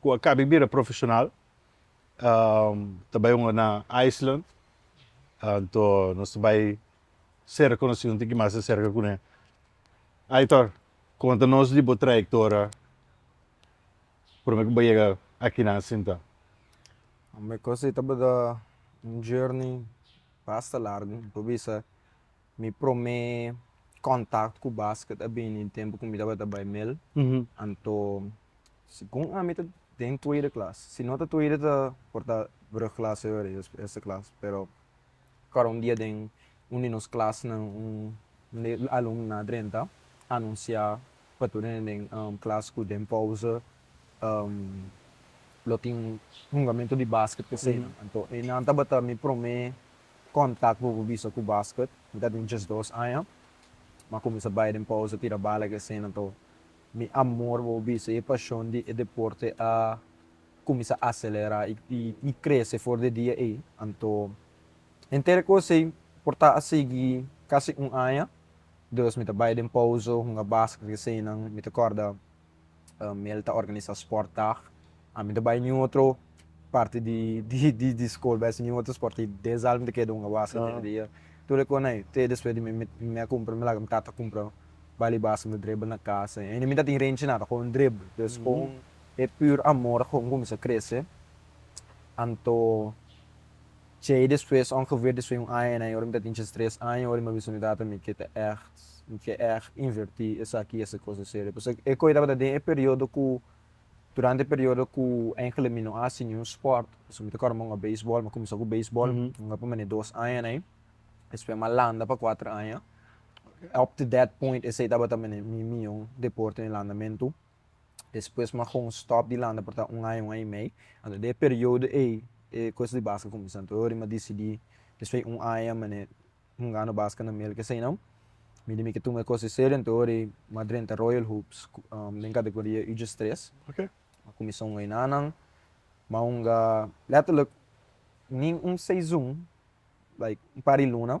Cu a cabe bira profesional, ta bay hunga na Iceland, anto nos ta bay cerca cu nos y un tiki mas di cerca cu ne. Aitor, conta nos di bo trayectoria, prome cu bo yega akinan sinta? Mi cosa y tabata un journey basta largo, mi por bisa Mi prome contact cu basket a bini den tempo cu mi tabata bay mil. Anto, segun ami ta den tweede klas. Si no ta tweede ta por ta brugklas a yor, es eerste klas. Pero acuerda un dia den un di nos klasnan un de e alumnonan a drenta anuncia pa tur hende den klas cu den pauze lo tin hungamento di basket cu eseinan. Anto, einan tabata mi prome kontak bo pa bisa ku basket mi ta den djes dos aña mi a kuminsa bai den pousa tira bala ke esena to mi amor wou bisa e pashon di e deporte a kuminsa aselera i krese for di dia ei anto henter e kos ei por ta a sigui kasi un aña dus mi ta bai den pousa hunga basket ke esena mi ta korda mi el ta organisa sport dag a mi no ta bai nin otro parti di skol bai haci nin otro sport y den zal mi ta keda hunga basa dor di dia tur e con ey te despues di mi mi a cumpra mi laga mi tata cumpra bal y basa mi ta dribel na casa y ain mi no ta tin renchi nada gewoon dribel pues gewoon e pur amor a cuminsa crece anto Tjei despues ong geveer di sueño un aña en aña ora mi ta tin tjes tres aña ora mi a bisa mi tata mi ke ta echt mi ke echt inverti esaki esa cosa serio pasa e koe tabata den e periodo ku durante e periodo ku enkele mi no hasi niun sport pasobra mi ta kòrda mi a hunga beisbòl mi a kuminsá ku beisbòl mi hunga pa mene dos aña na ai despues mi a landa pa kuater aña up to that point esei tabata mene mi mion deportenan landamentu. despues mi a haga un stop di landa por ta un aña, un aña i mei, anto den e periodo ei e cos di basket cuminsa, anto ora mi a dicidi despues di un aña mane hungando basket na mel kes einan, mi di mi ke tuma e cos serio, anto ora ei mi a drenta Royal Hoops den categoria ujs tres, mi a cuminsa hunga enanan, mi a hunga letterlijk nin un seizun, like un par di luna.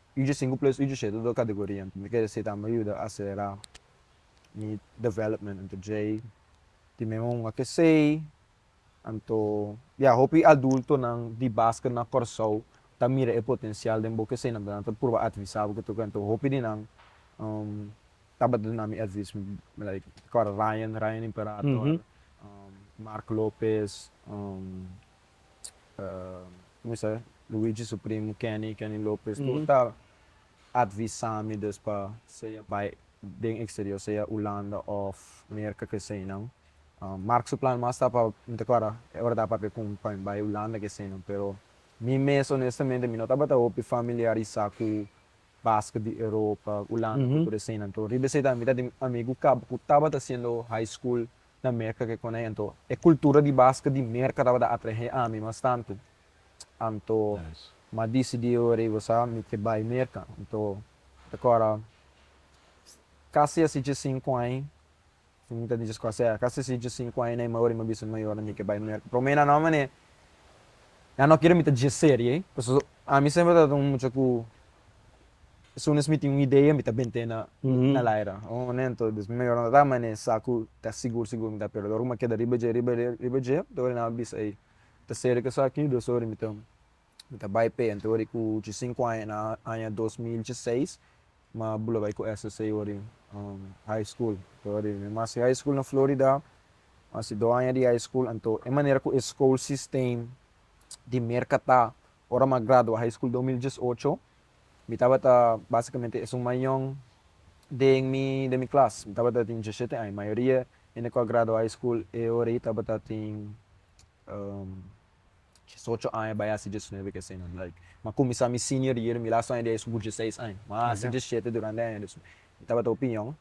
Uju sinku plus uju shete tur kategoria entonces ta kere si ta mi yuda aselerá mi development ento djei tin mi un a ke sei anto ya hopi adultonan di basket na Kòrsou ta mira e potensial den bo ke sei nan nan ta pruba advisá bo ketu ke anto hopi di nan tabata duna mi advis like Ryan Ryan Imperator Mark Lopez kumisa Luigi su primu Kenny, Kenny Lopez, tur ta advisa mi des pa sea bai den eksterior, sea Hulanda òf Merka keseinan. Mark su plan mas ta pa, mi ta kuadra e ora ta papia ku mi pa mi bai Hulanda keseinan, pero mi mes onestamente mi no tabata hopi familiarisá ku basket di Europa, Hulanda, ku tur eseinan. Tor riba esei tambe mi ta tin amigu kaba ku tabata hasiendo high school. na Merka ke konai anto e kultura di baske di Merka tabata atrahé ami bastante anto m'a disidí orí bo sa mi ke bai Merka anto ta kora kasi asi dje sinku aña si mi ta dishi sko asea kasi asi dje sinku aña na e ma orí m'a bisa mi mayor nan mi ke bai Merka pero mi na no manera ya no kere mi ta dje serie pasobra ami semper tabata un mucha ku Esun es mi tin un idea mi ta bent'e na na laira un momento dus mi ora ta mané sa ku ta sigur sigur mi ta pero ora ku mi a keda riba dje riba dje riba dje ta ora nan a bisa ei ta serka esaki dus ora mi ta mi ta bai p'e anto ora ku dje sinku aña na aña dos mil dje seis mi a bula bai ku SSC ora high school ta ora mi a hasi high school na Florida mi a hasi dos aña di high school anto e manera ku e school system di Merca ta Ora m'a gradua high school dos mil diesocho, mi tabata básicamente esun mayon den mi den mi klas. Mi tabata tin diesshete aña. Mayoria hende ku a gradua high school e ora ei tabata tin diesocho aña bai hasi diesnuebe kesenan. Like, m'a kuminsá mi senior year, mi lastu aña di high school ku dieseis aña. M'a hasi diesshete durante e aña di esuna. Mi tabata opiñon.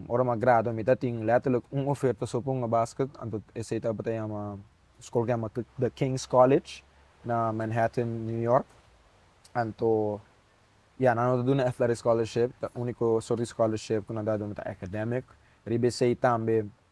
Ora mi a gradua mi ta tin letterlijk un oferta so pa un abasket, anto esei tabata yama skol ku yama The Kings College na Manhattan New York, anto ya nan no ta duna athletic scholarship, ta uniko sort di scholarship ku nan ta duna ta academic, riba esei tambe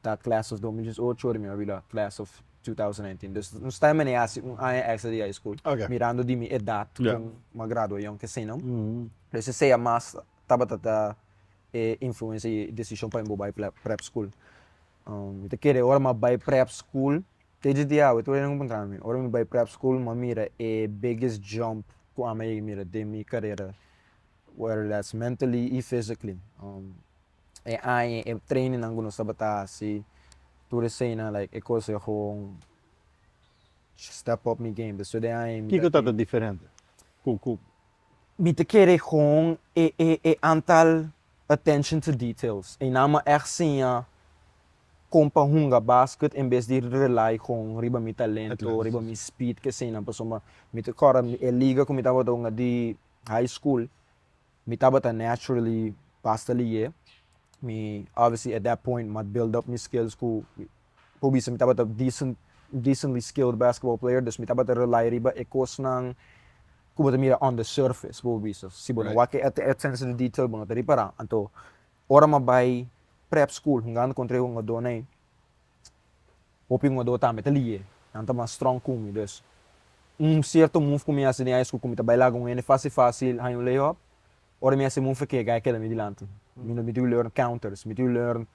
ta Class of dos mil diesocho ora mi a wila Class of two thousand nineteen dus nos ta himené hasi un aña extra di high school mirando di mi edat con mi a gradua yonki asina pues esey a mas tabata ta e influencia y decision pa mi bo bai prep school mi ta kere ora mi a bai prep school te distiawe tur hopi a puntra mi ora mi bai prep school mi a mira e biggest jump cu ami a yega mira den mi carera where less mentally y physically e aña e trainingnan ku nos tabata hasi tur eseinan like e kos a gewoon step up mi game despues di e aña mi ta. Kiko ta ta diferente ku ku. Mi ta kere gewoon e e e antal attention to details ei nan ma ègt siña kon pa hunga basket en bes di rely gewoon riba mi talento riba mi speed ki eseinan pasobra mi ta akorda e liga ku mi tabata hunga di high school Mi tabata naturally basta liye. Mi obviously at that point mi a build up mi skills ku por bisa mi tabata decent decently skilled basketball player dus mi tabata rely riba e kosnan ku bo ta mira on the surface por bisa si bo no wak e attention to detail bo no ta ripara. Anto ora mi a bai prep school hungando kontra e hungadónan ei. Hopi hungadó tambe ta liye. Nan ta mas strong ku mi. Dus, un sierto move ku mi hasi den high school ku mi ta bai laga un hende fásil fásil haña un layup, ora mi hasi e move akí a gai keda mi dilanti. Mi no mitidu learn counters, mi mitidu learn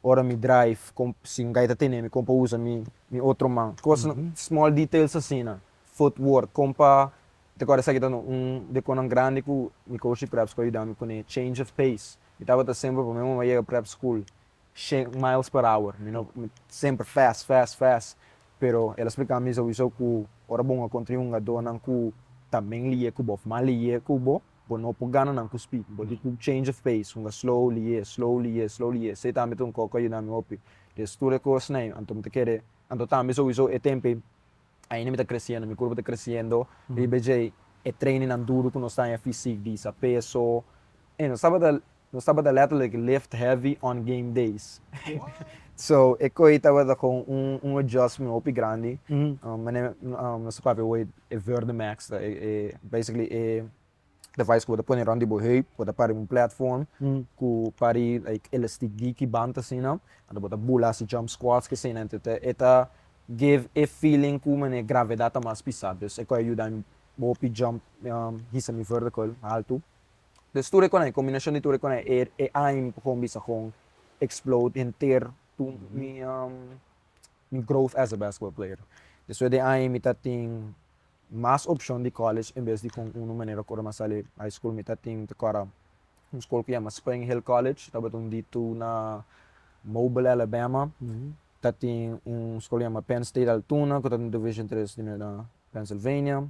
ora mi drive, kon, si un gai ta tene mi, kon pa usa mi mi otro man. Kos, small details asina. Footwork, kon pa, mi ta kòrda esaki ta un di e konan grandi ku mi coach di preps ku a yuda mi kuné, change of pace. Mi tabata semper, promé moman mi a yega prep school, shen miles per hour mi no mi semper fast fast fast pero el a splica mi souiso cu ora bo un a contra hungadonan cu ta men lie cu bo of mal lie cu bo bo no por gana nan cu speed bo tin cu change of pace hunga slow lie slow lie slow lie esey tambe ta un coco a yuda mi hopi des tur e cosnan ey anto mi ta kere anto tambe souiso e tempo ey ainda mi ta creciendo mi curpa ta creciendo riba ecey e training nan duru cu nos ta haña fisic di sa peso ey nos tabata Nos tabata letterlijk lift heavy on game days. So e koe tabata gewoon un adjustment hopi grandi. Manera nos ta papia hoy e Verdimax ta e basically e device ku bo ta pone rond di bo heup, bo ta para den un platform ku pari like elastic diki band asina, anto bo ta bula hasi jump squats ki asina, ento e ta give e feeling ku mane gravedad ta mas pisa, dus e koe a yuda mi hopi jump hisa mi vertical, haltu. Des tur e konai, kombinashon di tur e konai, e e aim ku Home bisa kon explode henter tu mi mi growth as a basketball player. Despues di aim mi ta tin mas opshon di college en bes di kon unu manera ku ora mi a sali high school mi ta tin ta kora un skol ku yama Spring Hill College tabata un di tu na Mobile Alabama, ta tin un skol ku yama Penn State Altoona ku ta un division tres di Pennsylvania.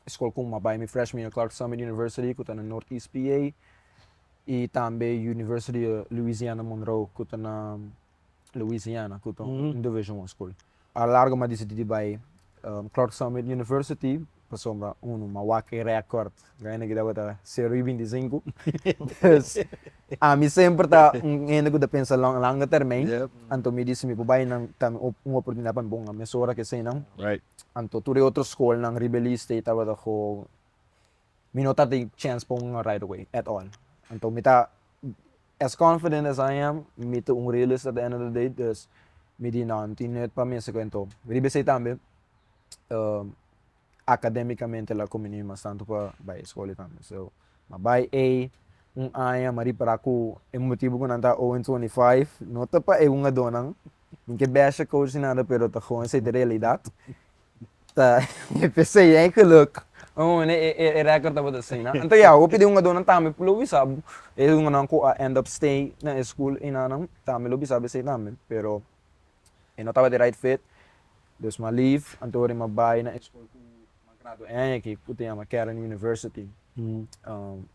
Escol cu m'abai mi freshman year Clark Summit University cu ta na Northeast PA y tambe University of Louisiana Monroe cu ta na Louisiana cu ta un division one school. A largo m'a dicidi di bai Clark Summit University pasobra uno m'a wak e record, Reina Guidagua ta cero y binti cinco, dos Ami semper ta un hende ku ta pensa long, langa termein. Yep. Anto mi di si mi por bai nan ta mi un oportunidat pa mi bon a mesora ku eseinan. Right. Anto tur e otro skolnan, Rebeli State tabata ku mi no tabata tin chance pa wungan right away at all. Anto mi ta as confident as I am, mi ta un realist at the end of the day, dus mi di no, no tin nut pa mi esei ku anto. Rebeli State tambe academicamente la come niño mas tanto pa bay escoli tambe so ma bay ey un aña ma ripara cu e motibo cu nan ta o en twenty five no ta pa e hungadornan ni ke besha coach ni nada pero ta goon esey ta realidad ta e p'esey ey geluk awor e record tabata asina anto ya hopi di hungadornan tambe lo bisa bo e hungadornan cu a end up stay na e school enanan tambe lo bisa bo esey tambe pero. E no taba di right fit, dus ma leave, anto ori ma bai na e skol ku ma gradua e aña aki, ku ta yama Caron University.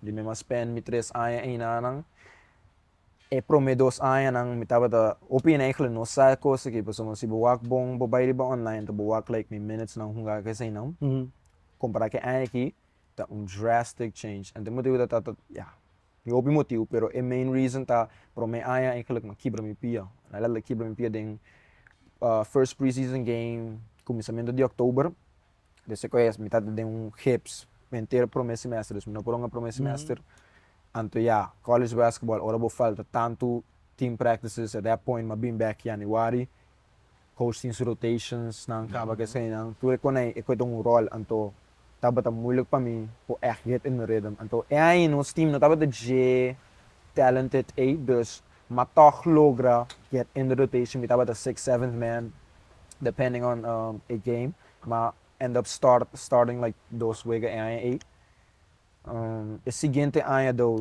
Di mi ma spend mi tres aña einanan. E promé dos añanan mi tabata, hopi nan eigelik no sa e kos aki, pasobra si bo wak bon bo bai riba online anto bo wak like mi minutesnan hunga ku eseinan, kompará ku e aña aki ta un drastic change. Anto mi ta wik dat ta, ya, Di hopi motibu pero e main reason ta prome aña eigenlijk mi a kibra mi pia. Na realidad mi a kibra mi pia den first pre-season game kuminsamentu di October des e koe mi tabata den un gips enter prome semester dus mi no por hunga prome semester anto ya college basketball ora bo falta tantu team practices at that point mi a bin back Januari. coachings rotationsnan caba cu esainan tur e conei e cueta un rol anto tabata moeilijk pa mi por echt get in the rhythm anto e aña nos team no tabata dje talented ey dus ma toch logra get in the rotation mi tabata sixth seventh man depending on e game ma end up start starting like dos wega e aña ey e siguiente aña though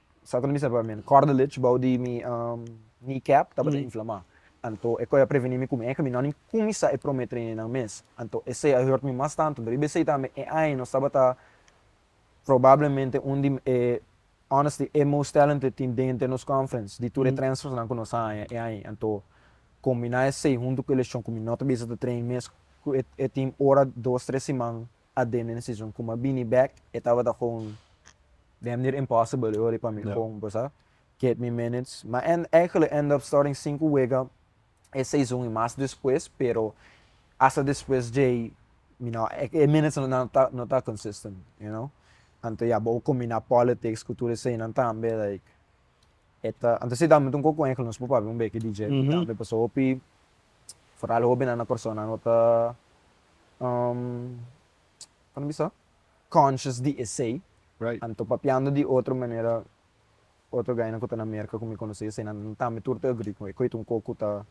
Satan a bisa pa mi, cartilage bou di mi kneecap tabata inflamá. Anto e kos a prevení mi ku mi eika mi no a nin kuminsá e promé treinenan mes. Anto esei a hùrt mi mas tantu. Dor i besei tambe e aña nos tabata probablemente un di e, honestly, e most talented team den henter nos conference, di tur e transfersnan ku nos a haña e aña. Anto kombiná esei huntu ku e leshon ku mi no ta bisa ta train mes ku e team ora dos tres siman a den den e season como a bini back e tabata gewoon den manera impossible e ori pa mi gewoon bo sa get mi minutes ma en actually end up starting cinco wega e season y mas despues pero hasta despues djey mi no e minutes nan no ta no ta consistent you know anto ya bo combina politics cu tur eseynan tambe like e ta anto si tambe ta un cocoenco nos por papia un beki di dje tambe pasobra hopi foral hopi nan na persona no ta Kunda mi sta? Conscious di esei. Anto papiando di otro manera, otro gainan ku ta na Merka ku mi konosé esei nan tambe tur ta agree ku e ku e ta un kos ku ta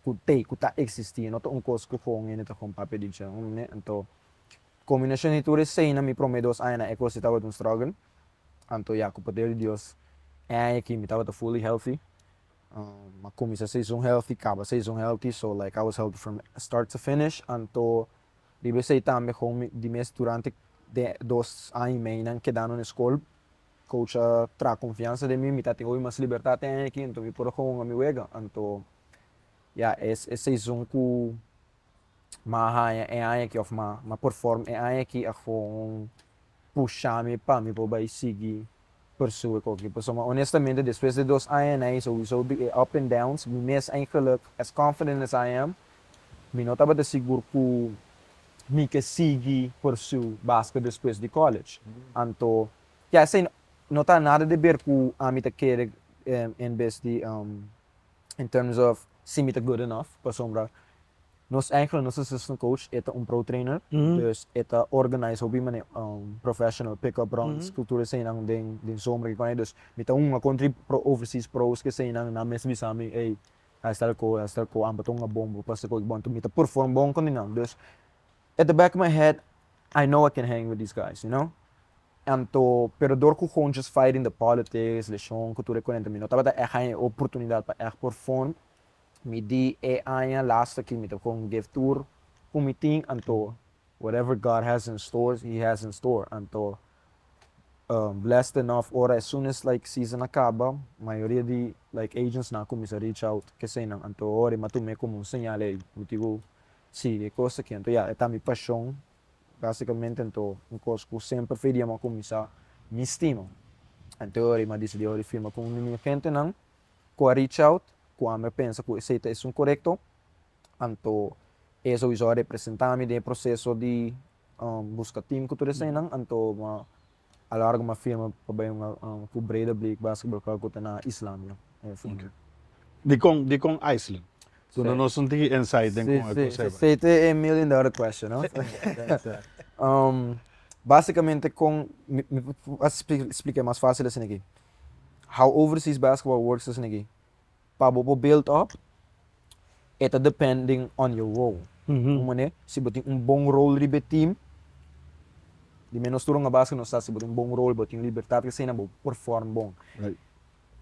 ku t'ei ku ta eksistí, e no ta un kos ku gon hende ta gon papia di dje. Anto kombinashon di tur esei na mi promé dos añanan e kos ei tabata un struggle. Anto ya ku poder di Dios e aña aki mi tabata fully healthy. a cuminsa seison healthy caba seison healthy so like I was healthy from start to finish anto riba esey tambe como mi di mes durante de dos aña y mey nan kedando na escol coach a traha confiansa den mi mi ta tin hopi mas libertad den aña aki anto mi por a gawon a mi wega anto ya es e seison cu ma a haña e aña aki òf ma a perform e aña aki a gewoon pusha mi pa mi por bai sigui persue ku aki. Pasobra honestamente despues di dos aña na ei souso di e up and downs mi mes eigenlijk as confident as I am mi no tabata sigur ku mi ke sigui pursue basket despues di college. Anto ke esei no ta nada di ber ku ami ta kere en bes di in terms of si mi ta good enough, pasobra nos Angeles, nos assistant coach, e ta un pro trainer, dus e ta organize hopi manera, professional pick up runs, kultura eseinan den den zomer, kiko ei, dus mi ta hunga kontra e pro overseas pros ke eseinan, nan mes bisa mi, ey, hasta el ko, hasta el ko, amper ta hunga bon, bo pasa ko, bo, enton mi ta perform bon kontra nan, dus At the back of my head I know I can hang with these guys, you know? Anto, pero dor ku hontjes fighting the politics, leshon, ku tur e kurente mi no tabata ègt haña e oportunidat pa ègt por fon. Mi di e aña lasta ki mi ta kon give tur ku mi tin, anto whatever God has in store, he has in store. Anto blessed enough ora as soon as like season a kaba, mayoria di like agents nan kuminsa reach out, keseinan. Anto ora mi a tuma e komo un señal, ey, mi tin ku Sí, e kos akí anto ya e ta mi pashon. Básikamente anto un kos ku semper fei di Jehová ku mi sa mi stima. Anto ora i mi a disidí ora di firma ku un di mi gentenan ku a reach out, ku ami a pensa ku esei ta esun korekto, anto e sowieso a representá mi den e proseso di buska tim ku tur eseinan. Anto mi a. a la ora ku mi a firma pa bai un akòrdu ku Breda Bleek Basketball Club ku ta na Islàndia. Dikon dikon Iceland? Duna nos un tiki insight den kon e kos ei bai. Sí, sí. Esei ta e million dollar question, no? Básikamente kon mi por a spliká mas fásil asina aki. How overseas basketball works asina aki. pa bo por build up e ta depending on your role. Un mané, si bo tin un bon role riba e team, di ménos tur un a base ku nos sa si bo tin un bon role, bo tin libertat i asina, bo perform bon.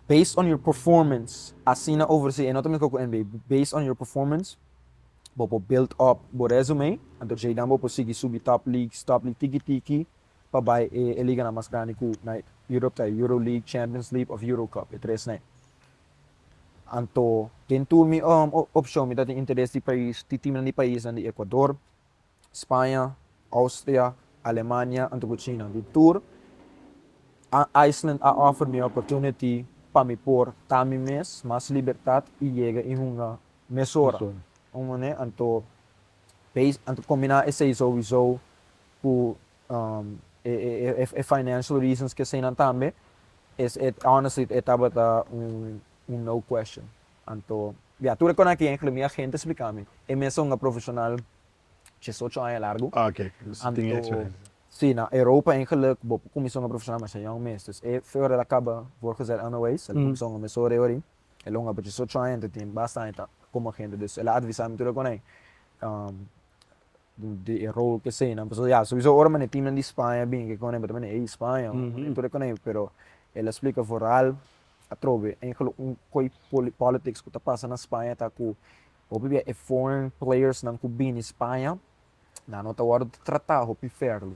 Based on your performance, asina oversee, e no ta mesma ku NBA, based on your performance bo por build up bo resume, anto djei dan bo por sigui subi top leagues, top league tiki tiki, pa bai e e liganan mas grandi ku na Europe ta e Euroleague, Champions League of Eurocup, e tres n'e. Anto den tur mi opshon mi ta tin interes di pais, di timnan di paisnan di Ekuador, Spaña, Austria, Alemania anto ku China. Den tur Iceland a offer mi e opportunity pa mi por ta mi mes, mas libertat i yega i hunga mesora. Anto Base anto combina esey sowieso cu e financial reasons ke eseynan tambe es e honestly e tabata un no question anto ya tur e con aki inclui mi agente explica mi e mes a un a profesional diesocho aña largo anto si na Europa en geluk bo por cuminsa un a profesional masha young mes dus e feo ora e a caba word gezet anyways el a cuminsa un a mes ora e orin El a un aperciu so cho hende tin basta aña ta komo hende dus el a advisa mi tur e konai di e rol ke senan pasobra ya souiso ora mane tinan di Spaña bin ke konai bata mane ey Spaña mane tur e konai pero el a splika foral atrobe enkele un koe politics ku ta pasa na Spaña ta ku hopi bia e foreign players nan ku bini Spaña nan no ta wòrdu tratá hopi fèrlu,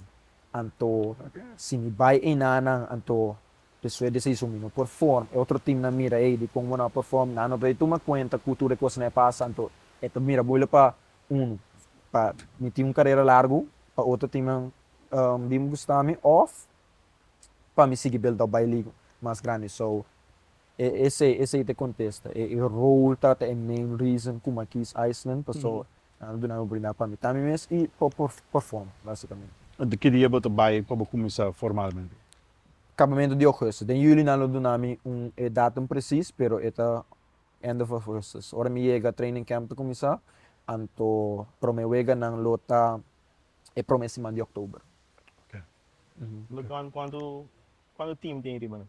anto si mi bai einan nan anto pesue di esei su mi no perfòm, e otro tim nan mira ei dikon bo no a perfòm, nan no ta di tuma kuenta ku tur e kosanan e pasa, anto e ta mira bo lo pa unu pa mi tin un karera largu, pa otro timnan bin buskami òf pa mi sigui build up bai liga mas grandi. So. E esei esei ta e contesta. E rol ta ta e main reason cu ma kies Iceland paso nan a duna mi oportunidad pa mita mi mes y pa por perform basicamente. Enton ki dia bo ta bay pa bo cuminsa formalmente? Acabamento di Augustus. Den Juli nan lo duna mi un e datum precies pero e ta end of Augustus. Ora mi yega training camp ta cuminsa anto prome wega nan lo ta e prome siman di October. Oke. Cuanto cuanto team tin riba nan?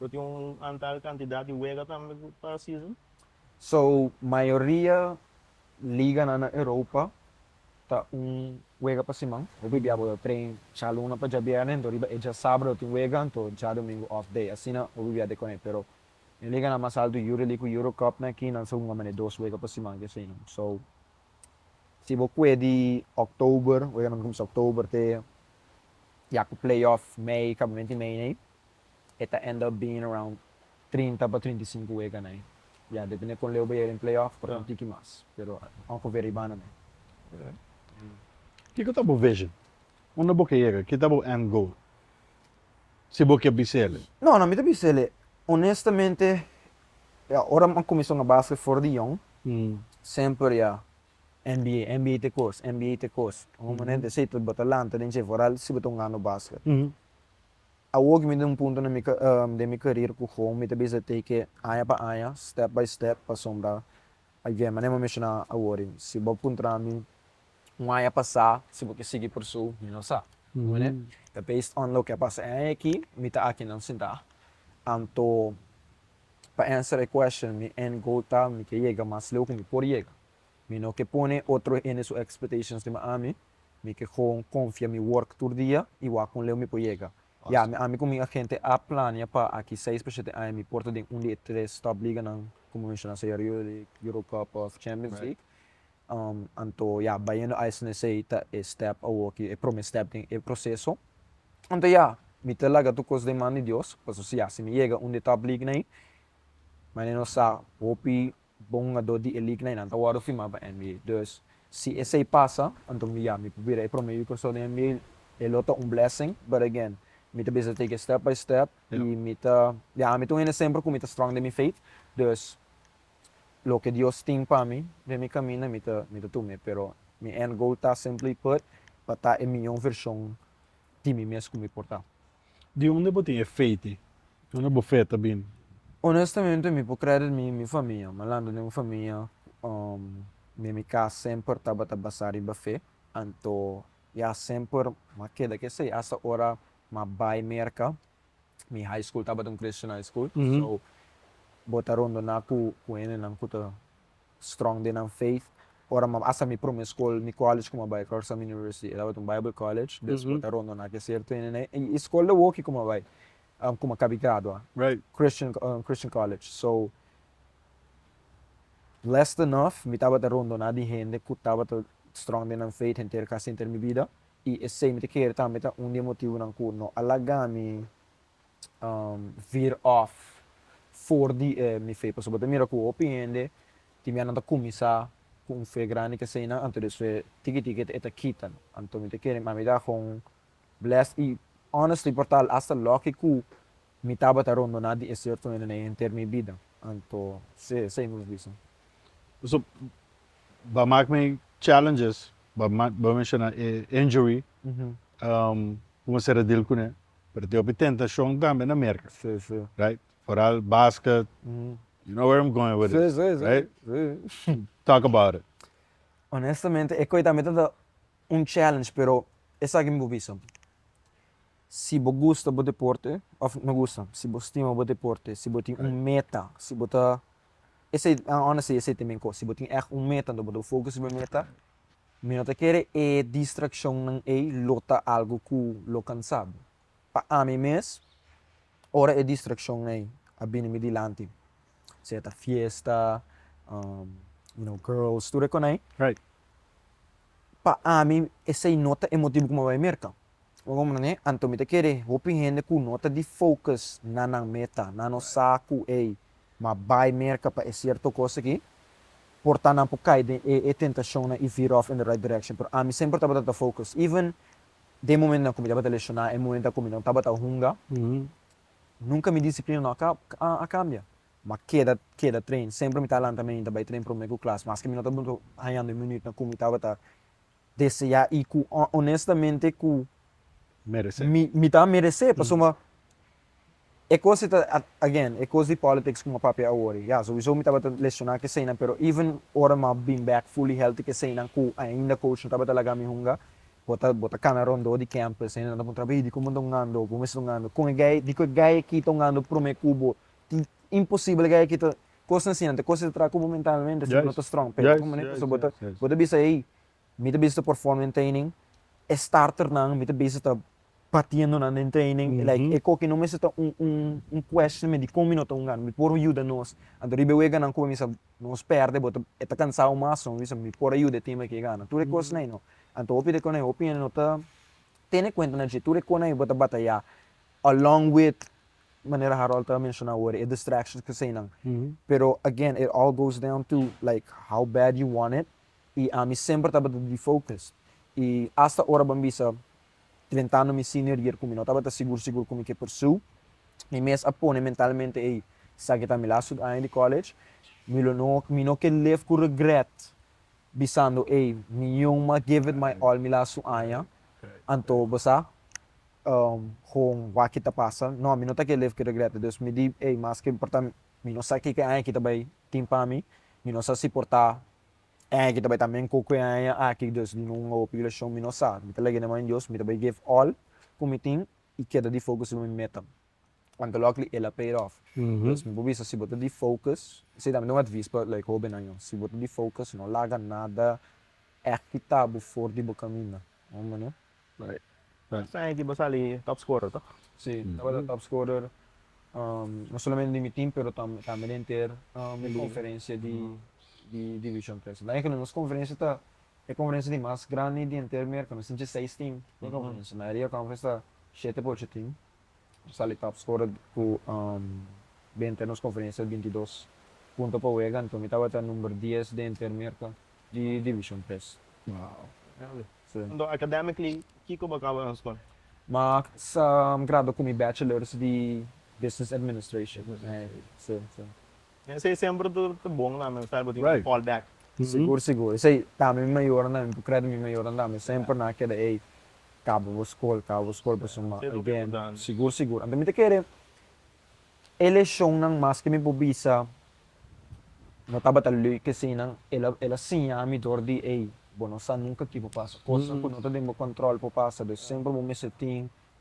Lo tin un antal kantidat di wega tambe ku pa season? So mayoria liganan na Europa ta un wega pa siman. Hopi bia bo ta train djalunan pa djabiernes anto riba e dja sabado tin wega anto djadomingo off day. Asina hopi bia ta e kone pero den liganan mas alto Euroleague ku Eurocup nan aki nan sa ku mama den dos wega pa siman ke aseinan. So si bo kue di oktober, weganan ta kuminsá oktober te ya ku playoff mei, kabamenti mei nei. e ta end up being around trinta pa trinta i sinku wega na ei. Ya depende kon leu bo yega den playoff por un tiki mas, pero ongever ribana na ei. Kiko ta bo vision? Unda bo ke yega? Ki ta bo end goal? Si bo ke bisele. No, no mi ta bisele. Honestamente ya ora mi a cuminsa hunga basket for di young semper ya NBA, NBA ta e cos, NBA ta e cos. Hunga momento esey ta bo ta lanta den dje vooral si bo ta hunga no basket. Awoke mi den un punto na mi den mi career cu gou mi ta bisa take aña pa aña, step by step, pasobra a yue manera mi menciona awori, si bo puntra mi un aña pasa si bo ke sigui por su, mi no sa. Comprende? Ta based on loke a pasa e aña aki, mi ta akinan sinta. Anto pa answer e question, mi end goal ta mi ke yega mas leu cu mi por yega. Mi no ke pone otro hende su expectations stima ami. Mi ke gewoon konfia mi work tur dia i wak kon leu mi por yega. Ya, mi ami ku mi agente a plania pa aki seis pa shete aña mi por ta den un di e tres top liganan, komo menshoná so ayer, Euroleague, Euro Cup òf Champions League. Anto ya, bayendo a esei sí ta e stèp awoki, e promé stèp den e proseso. Anto ya, mi ta laga tur kos den man di Dios, pasobra si ya, si mi yega un di e top liganan ei, mañana nos sa hopi Bongador di e lignan y nan ta wòrdu firmá pa NBA. Dus, si esei pasa, anto Miami por bira e promé yu krosor den NBA. E lo ta un blessing. But again, mi ta bisa take it step by step y mi ta, ya, ami ta un hende semper ku mi ta strong den mi faith. Dus, loke Dios tin pa mi den mi kaminda, mi ta mi ta tum'é. Pero mi end goal ta simply put pa ta e mihó vershon di mi mes ku mi por ta. Di unda bo tin e feiti? Di unda bo fe ta bini? Onestamente mi por credit mi mi famia, malandro den mi famia den mi cas semper tabata basa riba fe, anto ya semper m'a keda cu esey hasta ora m'a bay Merca, mi high school tabata un Christian high school, so bo ta rondona cu hendenan cu ta strong den nan faith. Ora m'a sa mi prome skol, mi college ku m'a bai, Clarkson Summit University, e tabata un Bible College, despues a rondoná ke ser tenen ei. I e skol dor woki ku m'a bai, ku m'a kabi gradua, Christian, un Christian College. So, blessed enough, mi tabata rondoná di hende ku tabata strong den nan faith henter ku a sinter mi bida. I esei mi ta kere tambe ta un di e motibunan ku no a laga mi vir off for di e mi fe pasobra bo ta mira ku hopi hende tin bia nan ta kuminsá ku un fe grandi ku eseinan anto di un fe tiki tiki e ta kita no. Anto mi ta kere mami ta haga un bless i honestly por tal hasta loke ku mi tabata rondoná di e sierto hende na e henter mi bida anto si esei mi por bisa. So bo a mak mi challenges bo a menshoná e injury, kuma sera dil kuné Pero tin hopi tentacion tambe na Merca right foral basket you know where I'm going with this right talk about it. Honestamente e coi tambe ta ta un challenge pero esaki mi por bisa si bo gusta bo deporte of no gusta si bo stima bo deporte si bo tin un meta si bo ta esey honestly esey ta e mi cos si bo tin echt un meta bo ta focus bo meta Mi no ta kere e distraccionnan ey lo ta algo cu lo cansabo. Pa ami mes, ora e distraccion ey a bini mi dilanti, sea ta fiesta, you know, girls, tur e coney, pa ami esey no ta e motibo cu mi a bai merca. Un hopi manera anto mi ta kere hopi hende ku no ta di focus na nan meta, nan no sa ku ey ma bai merka pa e sierto kos aki, por ta nan por kai den e e tentashonnan i vira off in the right direction. Pero ami semper tabata ta focus, even den momentunan ku mi tabata lesioná, e momentunan ku mi no tabata hunga, nunka mi disiplina no a kambia. Mi a keda keda train, semper mi ta lanta mente bai train promé ku klas, maske mi no tabata hañando e minütnan ku mi tabata deseá i ku onestamente ku mi ta meresé. Pasobra e kos ei ta, again, e kos di politics ku mi a papia awor ei, ya, souiso mi tabata lesioná ku eseinan, pero even ora mi a been back fully healthy ku eseinan ku ainda coach no tabata laga mi hunga, bo ta bo ta kana rondó di campo, eseinan ta puntra, Baby, dikon bo ta hungando? Bo mester ta hungando? Kon e gai, dikon e gai aki ta hungando promé ku bo? Tin, imposibel e gai aki ta. Kosnan si anto e kos e ta traha ku bo mentalmente si bo no ta strong. Pero ora ku manera pasobra bo ta bo ta bisa ey mi ta bisa ta perform den training, e starternan mi ta bisa ta batiendo nan den training like e koki no mester ta un un un questionment di kon mi no ta un gana mi por yuda nos. Anto riba e weganan ku bamisa nos perde bo ta e ta kansau mas so mi bisa mi por a yuda e tim aki gana. Tur e kosnan ei no. Anto hopi di ekon ei hopi hende no ta tene kuenta na dje tur e kon ei bo ta batayá along with manera Harold ta menshona awor, e distractions ku eseinan. Pero again, it all goes down to like how bad you want it, i ami semper tabata defocus. I hasta ora ban bisa trentando mi senior year ku mi no tabata sigur sigur ku mi ke pursue, mi mes a pone mentalmente ey, esaki ta mi last two aña di college, mi lo no, mi no ke live ku regret bisando ey, mi yunma give it my all mi last two aña, anto bo sa, Con wak ta pasa? No, mi no ta ke lef cu regrete. Dus mi di, Ey, mas ke importa mi, mi no sa kiko e aña aki ta bay tin pa mi, mi no sa si por ta e aña aki ta bay ta men cu cu e aña aki, dus di un hopi leshon mi no sa. Mi ta laga e mano di Dios, mi ta bay give all cu mi tin y keda di focus riba mi meta. Anto luckily el a paid off. Dus mi por bisa, si bo ta di focus, esey tambe ta un advis pa like hobennan yo, si bo ta di focus no laga nada aki ta bo for di bo caminda. Last time aki bo sali top scorer toh? Si, tabata top scorer no solamente di mi team pero tambe di enter e conferencia di division tres. Dje que nos conferencia ta e conferencia di mas grandi di enter Merca, nos tin dje seis team den conferencia, mayoria conference ta shete por ocho team. Sally Taps ora cu benta e nos conferencia el binti dos punto pa wega, anto mi tabata number dies den ter merca di Division tres. Anto academically kico bo caba na scola? Ma sa gradua cu mi bachelors di Business Administration. Esei semper ta bon na men sabi bo tin ki fall back. Sigur sigur, esei tambe mi mayornan, mi por cred mi mayornan tambe semper nan a keda ey caba bo scol caba bo scol pasobra mi a again sigur sigur anto mi ta kere e leshonnan mas ke mi por bisa no tabata leuk asina ela ela siña mi dor di ey bo no sa nunca ki por pasa cosnan cu no ta den bo control por pasa dus semper bo mester tin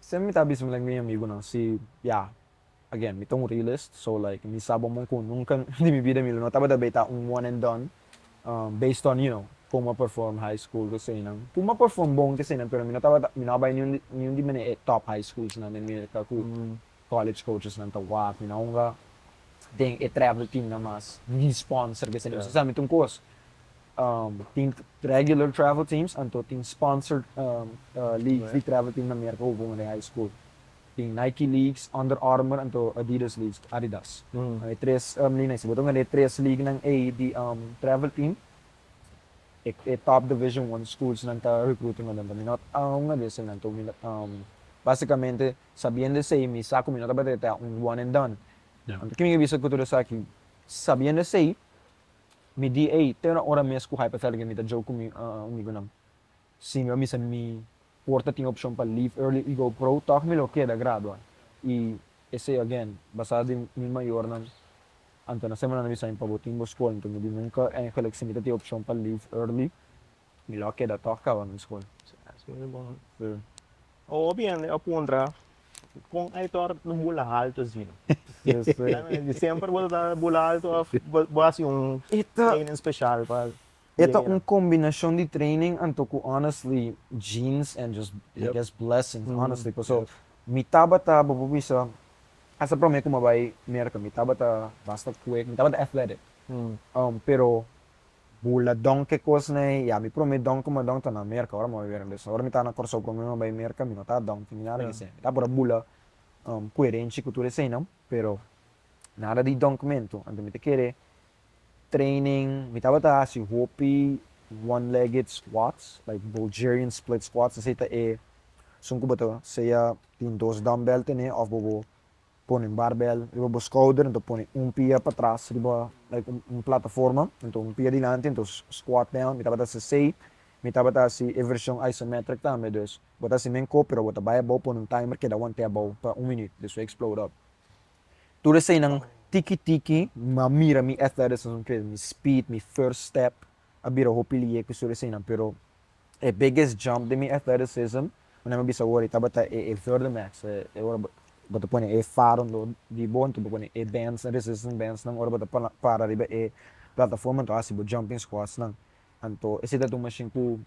Semper mi ta bisa like mi amigunan si ya again mi ta un realist so like mi sa bo mon cu nunca di mi bida mi lo no tabata bay ta un one and done based on you know como a perform high school cu eseynan cu mi a perform bon cu eseynan pero mi no tabata mi no a bay niun di niun di mene e top high schools nan den Merca cu College coachesnan ta wak na hunga den e travel teamnan mas di sponsor ke salió. Sosamente un kos, tin regular travel teams, anto tin sponsored leagues di travel team na Merka hopi hunga den high school. Tin Nike leagues, Under Armour anto Adidas leagues, Adidas. E tres lina ei. Si bo ta hunga den e tres leaguenan ei di travel team, e top division one schoolsnan ta recruta hunga den. Mi no ta hunga di eseinan. Básicamente Sabiendo esei, mi sa ku mi no tabata ta un one and done. Anto kimin a bisa ku tur esaki. Sabiendo esei, mi di ei, te un ora mes ku hypothermia mi ta jou ku mi amigunan. Si mi a misa mi por ta tin opshon pa leave early i go pro, tòg mi lo keda gradua. I esei again, basá di mi mayornan, anto na semananan a bisa mi pa bo tin bo skol, anto mi di nunka, eigenlijk si mi ta tin opshon pa leave early, Mi lo keda tok kaba mi skol. Hopi hende a puntra kon Aitor lo bula haltu asi. Di semper bo ta tabata bula haltu of bo hasi un training special pa bira? E ta un kombinashon di training anto ku honestly genes and just I guess blessings honestly paso mi tabata bo por bisa esta prome ku mi a bai Merka mi tabata basta kwek mi tabata athletic pero Bula don ke kos na e ya mi prome don kuma don ta na merka ora mi bai merka despues ora mi ta na Kòrsou prome mi bai merka mi no ta don tin nada ke esei mi ta por a bula koerenshi ku tur eseinan pero nada di donkmentu anto mi ta kere training mi tabata hasi hopi one legged squats like bulgerian split squats esei ta e asun ku bo ta sea tin dos dumbbell tene of bobo pone un barbel riba bo skouder, enton pone un pia patras riba like un plataforma, enton un pia dilanti, enton squat down, mi tabata hasi asei, mi tabata hasi e version isometric tambe, dus bo ta hasi men ko pero bo ta bai abou, pone un timer keda want'é abou pa un minüt, despues explode up. Tur eseinan tiki tiki, m'a mira mi athleticism, mi speed, mi first step a bira hopi lihé ku sur eseinan pero E biggest jump di mi athleticism, una mi bisa wor, tabata e e Verdimax, e ora bo ta pone e faro lo di bo, enton bo pone e bands, resistance bandsnan, ora bo ta para riba e plataforma enton hasi bo jumping squatsnan. Anto esei tabata un mashin ku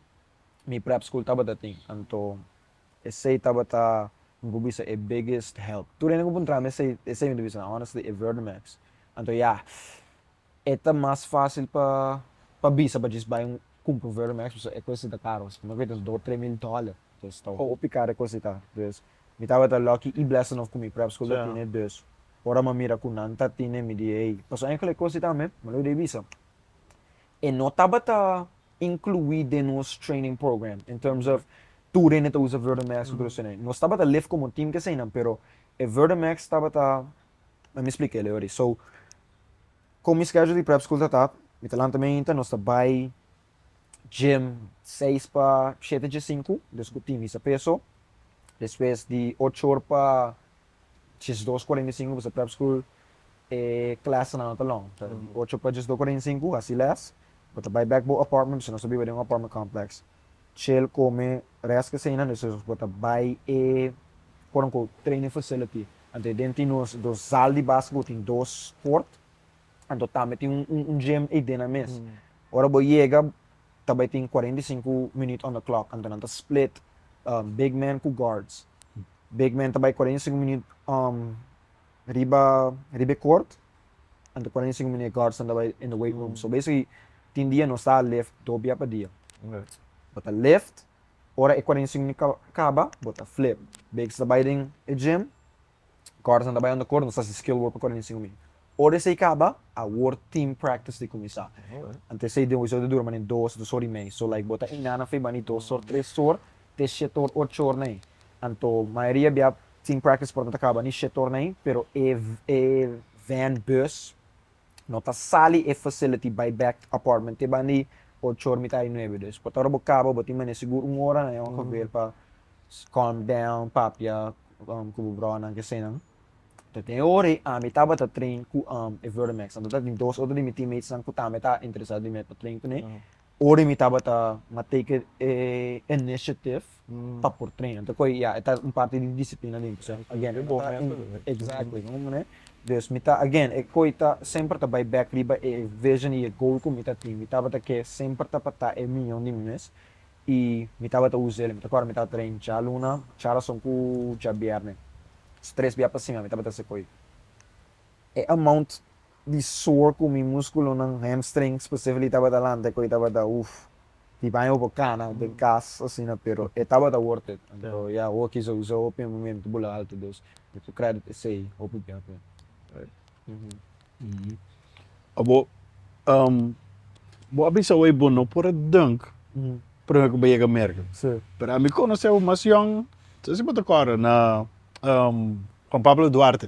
mi prep school tabata tin, anto esei tabata mi por bisa e biggest help. Tur hende ku por traha mi esei, esei mi ta bisa honestly e Verdimax. Anto ya. E ta mas fásil pa pa bisa pa djis bai un kumpra un Vero Max pasobra e kosnan ta karo asina. Mos a kuminta nos dos, tres mil dóla. Entonces ta hopi karo e kos ekan. Entonces mi tabata lòki i blèsa nòf ku mi prèp skol ta tene dus. Ora mi a mira ku nan ta tene mi di ei. Pasobra enkel e kos ekan men, mi lo dei bisa. E no tabata inkluí den nos training program in terms of tur hende ta usa Vero Max ku tur los hende. Nos tabata lef komo tim ki eseinan pero e Vero Max tabata, mi a splika el ei ahori. So, Kon mi schedule di prep school ta ta, mi ta lanta mainta, nos ta bai gym seis pa shete dje sinku, dus ku tin hisa peso, despues di ocho or pa djesdos kuarenta i sinku, pasobra prep school e clasenan no ta long, ta di ocho pa djesdos kuarenta i sinku, hasi les, bo ta bai bek bo apartment, pasobra nos ta biba den un apartment complex. Chel come rest ke seinan de seinan por ta bai e quote unquote training facility anto den tin nos dos zal di basketball tin dos court anto tambe tin un gym ei den nan mes ora bo yega ta bai tin cuarenta y cinco minut on the clock anto nan ta split big man cu guards big man ta bai cuarenta y cinco minut riba riba e kort anto kuarentu i sinku minut e kort standa bai in the weight room so basically tin dia nos ta lift dos bia pa dia bo ta lift ora e kuarentu i sinku minut kaba bo ta flip bek so ta bai den e gym kort standa bai unda kort nos ta hasi skill work pa kuarentu i sinku minut ora esei kaba awor team practice ta kuminsá anto esei den wisdom ta dura manen dos dos or i mei so like bo ta inga nan fi bani dos or tres or te shete or ocho or na ei anto mayoria bia Team practice por ta caba ni sector na ei, pero e e van, bus, no ta sali e facility bay back apartment te banda ei ocho or mitai nuebe. Dus por ta ora bo caba bo tin mane sigur un ora na e oca bel pa calm down, papia cu bo broanan kesenan. Ta den e ora ei ami tabata train cu e Vertimax nan. Ta tin dos otro di mi teammates nan cu tambe ta interesado di mi pa train cun'e. Ora mi tabata na take e initiative pa por traina ta koe ya e ta un parti di disiplina den kusai again mi ta exactly na un manera dus mi ta again e koe ta semper ta bai back riba e vision y e goal ku mi ta tin mi tabata ke semper ta pa ta e miyon di mi mes y mi tabata usa el mi ta kual mi ta train djaluna djarason ku djabierne tres bia pa sima mi tabata hasi koe e amount di sor cu mi musculonan, hamstring specifically, tabata lanta e coi tabata uff. Di baña hopi cana den cas asina pero e tabata worth it. Anto ya hockey sousa hopi e momento bola alto dus mi cu credit esey hopi bien hopi bien. Abo bo a bisa awey bo no por a dunk prome cu bo yega America pero ami conoce bo mas yong, no sé si bo ta acorda na Juan Pablo Duarte.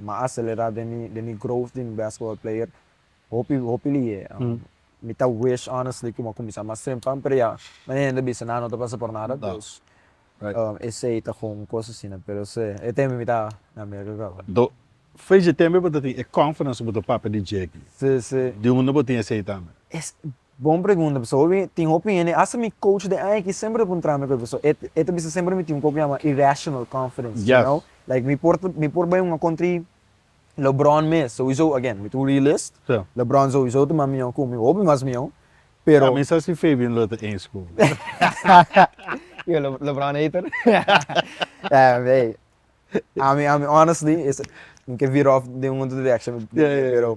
ma acelera den mi den mi growth di mi basketball player hopi hopi lihe mi ta wish honestly cu mi a cuminsa mas temprano pero ya mi hende a bisa nan no ta pasa por nada pues esey ta gun un cos asina pero se e tembe mi ta na America caba. Nto face e tembe bo ta tin e conference cu bo ta papia di Jackie di hunde bo tin esey tambe? Bon pregunta, pasobra hopi tin hopi hende, hasta mi coach den Aiki semper ta puntra mi ku e pasobra e, e ta bisa semper mi tin un poco yama irrational confidence, you know, like mi por, mi por bai un country LeBron mes, souiso, again, mi ta un realist, LeBron souiso ta mas mion ku mi, hopi mas mion, pero. Mi sa si Fabian lo ta eens ku mi. Yo le, LeBron hater? Ey, ami, ami honestly, mi ke vira off den un otro direction, pero.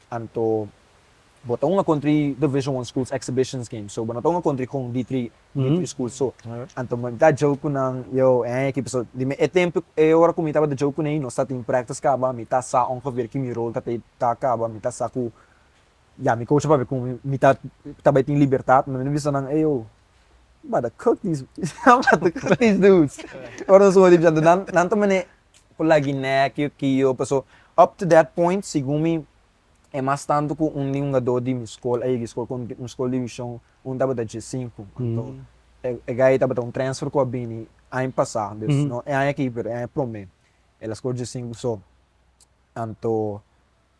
Anto bo ta un a kontri Division One Schools Exhibitions Games, so bo no ta un a kontri kon di tri di tri schools so. Anto mi ta joke ku nan, yo, e aña aki paso, di mi e tempo, e ora ku mi tabata joke ku nan i nos ta tin practice kaba, mi ta sa ongeveer ki mi rol ta te ta kaba, mi ta sa ku ya mi coach a papia ku mi, mi ta ta bai tin libertad, mi no bisa nan, ey yo, mi tabata cook these, mi tabata cook these dudes, ora nos un hopi anto nan, nan ta mane por la Guinea ki ki yo paso up to that point segun mi e mas tanto ku un di hungadó di mi skol a yega skol konti un skol divishon un tabata dje sinku anto e e guy tabata un transfer ku a bini aña pasá dus no e aña aki pero e aña promé el a skor dje sinku so anto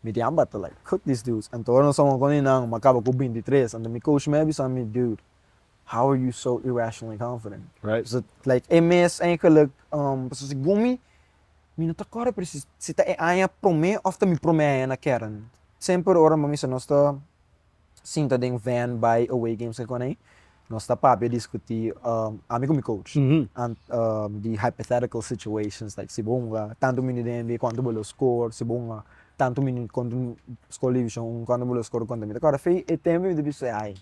mi tin a bata like cook these dudes anto ora nos ta wòrdu kònt di nan mi a kaba ku binti tres anto mi coach mi a bisa mi dude. How are you so irrational and confident? Right. So, like, e mes eigenlijk, um, pasobra si gumi, mi no ta kòrda presis si ta e aña promé òf ta mi promé aña na kèdèn. Semper ora mami sa nos ta sinta den vèn bai away games su kònei, nos ta papia, diskutí, um, ami ku mi coach, an, um, di hypothetical situations, like si bo hunga tantu minut den NBA, kuantu bo lo score? Si bo hunga tantu minut kontra un skol divishon uno, kuantu bo lo score? Konta mi ta kòrda. Fe, e tempu mi ta bisa, ai.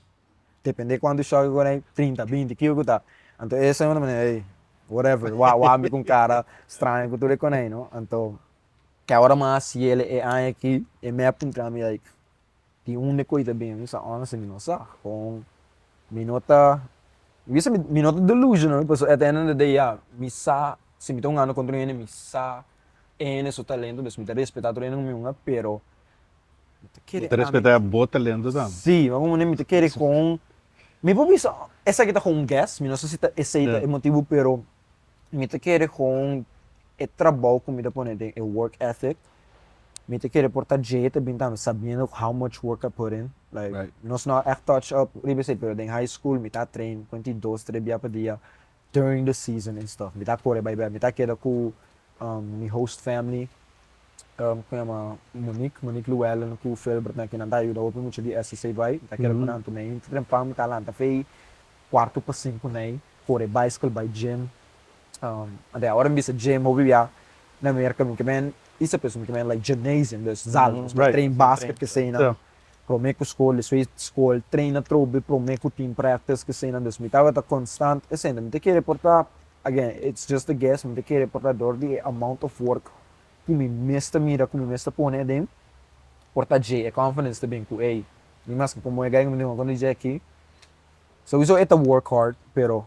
depende cuantu shock cu hay trinta binti kico cu ta anto eso un manera ey whatever wou wou ami con cara straño cu tur e coney no anto ke ahora mas yele e aña aki e mep puntra mi like di un de koy ta bini mi sa honestly mi no sa con mi no ta mi bisa mi no ta delusional pasobra at the end of the day ya mi sa si mi ta hunga ando con tur hende mi sa e hende su talento pues mi ta respeta tur hende cu mi hunga pero Mi ta kere Mi ta ami. respetá bo talento tambe. Sí, mi tabata manera mi ta kere con, mi por bisa esaki ta con un guess, mi no sa si ta esey ta e motibu pero mi ta kere con e trabou cu mi ta pone den e work ethic, mi ta kere por ta dje ta bini tambe sabiendo how much work I put in, like Right. nos no a echt touch up riba esey pero den high school mi ta a train cuanti dos tres bia pa dia, during the season en stuff mi ta kore bai bai mi ta keda ku mi host family ku yama Monique Monique Luellen ku Filbert nan kinan ta yuda hopi mucha di SSA bai mi ta keda ku nan tu mi ta trempa mi ta lanta fei kuarto pa sinku nei kore bicycle bai gym anto ora mi bisa gym hopi bia na Merka mi kimen i sa p'esun mi kimen like gymnasium dus zal nos por train basket kesei nan. Prome ku skol e swe skol treina trobe prome ku team practice kesenan dus mi tabata konstant esente mi ta kere porta again it's just a guess mi ta kere porta dor di e amount of work ku mi mes ta mira ku mi mes ta pone aden porta dje e confidence ta bin ku ey mi mas ke komo e guy ku mi ta konta di dje aki souiso e ta work hard pero.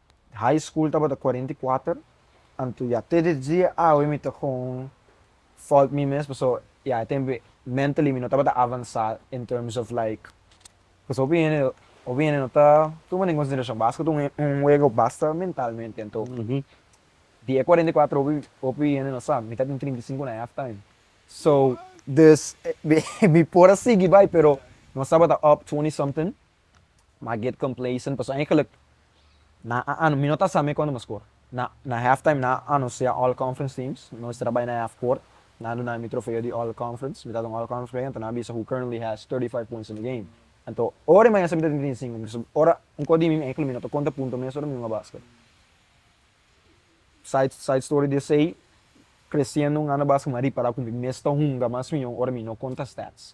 High school tabata cuarenta y cuater, anto ya te den dia awe mi ta con fault mi mes paso ya e tempo mentally mi no tabata avansa in terms of like paso hopi hende hopi hende no ta tuma den consideracion basket un un huego basta mentalmente anto di e cuarenta y cuater hopi hopi hende no sa mi ta den trinta y cinco and a half time so dus mi por a sigui bay pero nos tabata up twenty something M'a get complacent paso eigenlijk na ano, mi no ta sa me cuando m'a score. Na na halftime na ano sea all conference teams, nos estra bay na half court, nan duna mi mi trofeo di all conference, mi ta un all conference player, anto nan bisa who currently has thirty five points in the game. Anto ora e maestra mi ta tin trinta i sinku punto, so ora un kos di mi mi eigenlijk mi no ta konta punto mes ora mi hunga basket. Side side story di esey, creciendo un ano basket m'a ripará ku mi mes ta hunga mas mion ora mi no konta stats.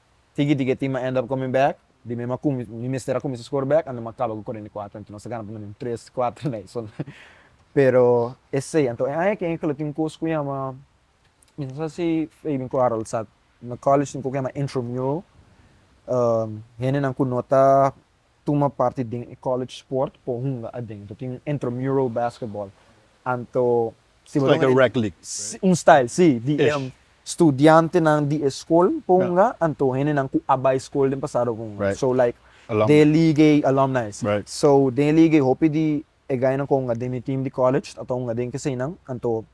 Tiki tiki e team a end up coming back, di mi ma cumis mi mester a cuminsa score back and mi ma caba cu cuarenta y cuatro anto nos a gana por lo menos un tres cuatro na eso na pero esey anto e aña ken ecolo tin un cos cu yama mi no sa si Fabian cu Harold sa na college tin un cosa cu yama intramural hendenan cu no ta tuma parti den e college sport por hunga adentro. Tin un intramural basketball anto sibaron e. It's like a rec league. Sí, un style, sí. Di e studiantenan di e skol por hunga anto hendenan ku a bai skol den pasado por hunga. So like de e liga ei, alumni, sí. So den e liga ei hopi di e gainan ku a hunga den mi team di college ta hunga den keseinan. Anto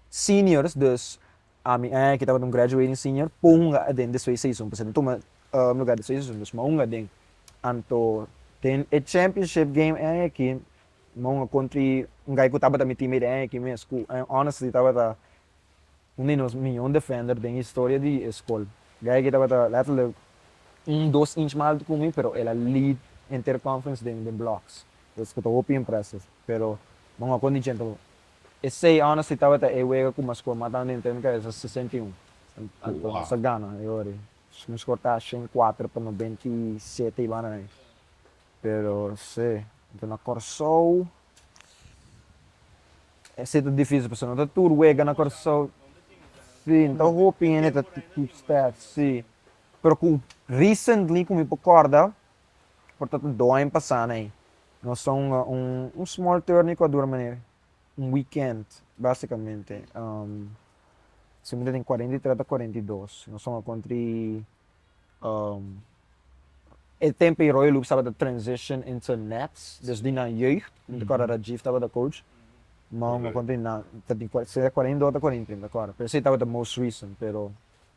seniors, dus Ami e ki tabata un graduating senior por hunga aden despues di seisun, pasobra mi tuma lugar despues di seisun, dus mi a hunga aden. Anto den e championship game e aki mi a hunga kontri un guy ku tabata mi teammate e aki mes, ku e honestly tabata un di nos mion defender den historia di e skol. Guy aki tabata letterlijk un, dos inch mas altu ku mi, pero el a lead enter conference den blocks, kos ku ta hopi impressive. Pero mi a hunga kondi djenta. E sei ònes di tabata e wega ku mas por mata un hende ta mira esa sesenta i un. Anto nos a gana e ora ei. Nos a kortá asha en kuater pa nobenta i sete i banda na ahí. Pero sí, anto na Kòrsou esei ta difísil pasobra no ta tur wega na Kòrsou. Sí, no ta hopi hende ta tur staf, sí. Pero ku recently ku mi por kòrda por ta ta doaño pasá na ei. Nos ta un un small tour na Ekuador manera un wikènt básikamente. Siempre den kuarenta i tres ta kuarenta i dos. Nos ta un akontri e tempu ei Royal Hoops tabata transition into Nets, dus di nan jeugd, mi ta kòrda Rajiv tabata coach. Mò un akontri nan, ta den kuarenta i dos ta kuarenta i tres, mi ta kòrda. Pero esei tabata most recent, pero.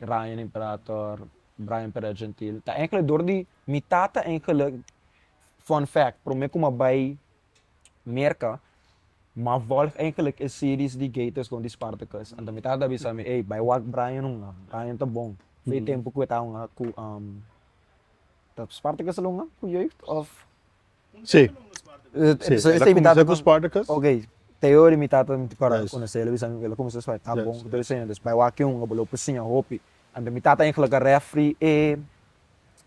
Ryan Imperator, Brian Perez Gentil, ta engelek dor di mi tata engelek, fun fact, prome ku mi a bai Merka, mi a volg engelek e series di Gators kon di Spartacus, anto mi tata a bisa mi, ey, bai wak Brian hunga, Brian ta bon, ku e tempu ku e ta hunga ku Spartacus a lo hunga ku Jeugd of. Sí. Entonces esta y mi tata con Spartacus? Ok, Teode mi tata mi ta parado con esey ela bisan ela comensa espai ta bon cu ta bisayo entonces bai wak un abo lo por siña hopi anto mi tata entra laka refri e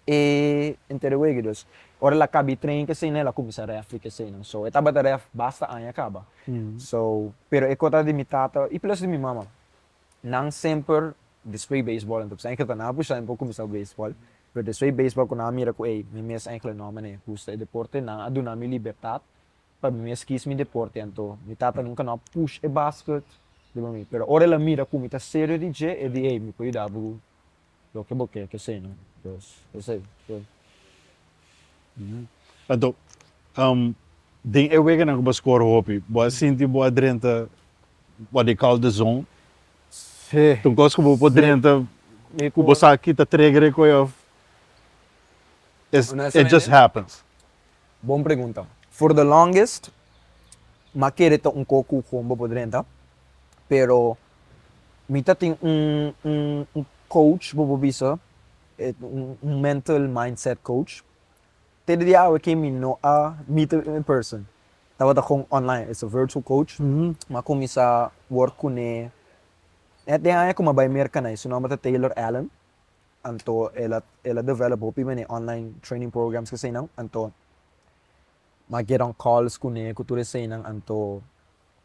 e entero wege dus ora el a caba e train ke eseynan el a cuminsa refri ke eseynan so e tabata ref basta aña caba so pero e cota di mi tata y plus di mi mama Nan semper descree baseball anto pues engelto nan a pusha en por cuminsa cu baseball pero despues baseball cu nan a mira cu ey mi mes engle no mane gusta e deporte nan a duna mi libertad pa mi mes kies mi deporte anto mi tata nunca no a push e basket riba mi pero ora el a mira cu mi ta serio di dje e di ey mi por yuda bo Loke bo ke ke se no pues esei pues. Anto den e weganan ku bo a scor hopi bo a sinti bo a drenta what they call the zone? Si. Ta un kos ku bo por drenta ku bo sa kita trigger e koe of it just happens? Bon pregunta. For the longest m'a kere ta un kos ku bo por drenta pero Mi ta tin un un un coach bobo bisa e un mental mindset coach te di awe ke mi no a meet em in person tabata kon online it's a virtual coach mi a kumisa work kune net den aña ku mi a bai Merka na e su nomber ta Taylor Allen anto el a el a develop hopi men e online training programs ku eseinan anto mi a get on calls kune ku tur eseinan anto.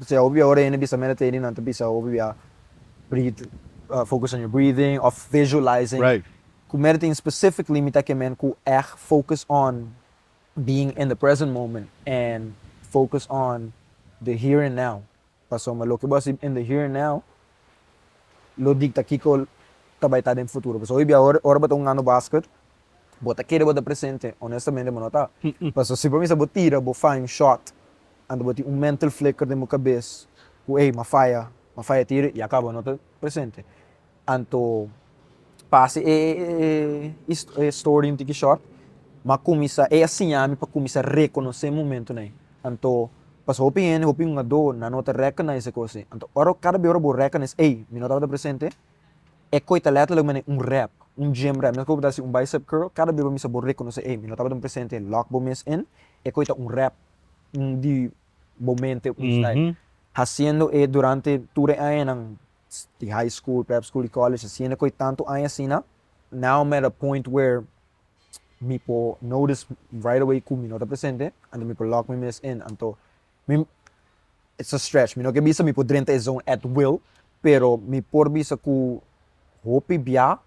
Bisaya hopi bia ora hende bisa mera training nan ta bisa hopi bia breathe focus on your breathing of visualizing cu mera tin specific limita ke men cu eht focus on being in the present moment and focus on the here and now pasobra loke bo a hasi in the here and now lo dicta kico ta bay ta den futuro pasobra hopi bia ora bo ta hunga no basket Bo ta kere bo ta presente? Honestamente bo no ta. Paso si pa mi sa bo tira bo fine shot anto bo tin un mental flicker den bo cabez cu ey m'a faya, m'a faya tira ya caba no ta presente. Anto pasa e e story un tiki short m'a cuminsa, ey a siña mi pa cuminsa reconoce e momentonan. Anto paso hopi hende, hopi hungador nan no ta recognize e cosnan. Anto ora cada be ora bo recognize ey mi no tabata presente E koi ta letterlijk manera un rep, un gym rep, meskos bo ta hasi un bicep curl, kada bes bo mester bo rekonosé, ey, mi no tabata un presente, lock bo mes in, e koi ta un rep, un di bo mente, un stijl. Hasiendo e durante tur e añanan di high school, prep school i college, hasiendo e koi tantu aña asina, now I'm at a point where mi por notice right away ku mi no ta presente, anto mi por lock mi mes in, anto Mi it's a stretch, mi no ke bisa mi por drenta e zon at will, pero mi por bisa ku hopi bia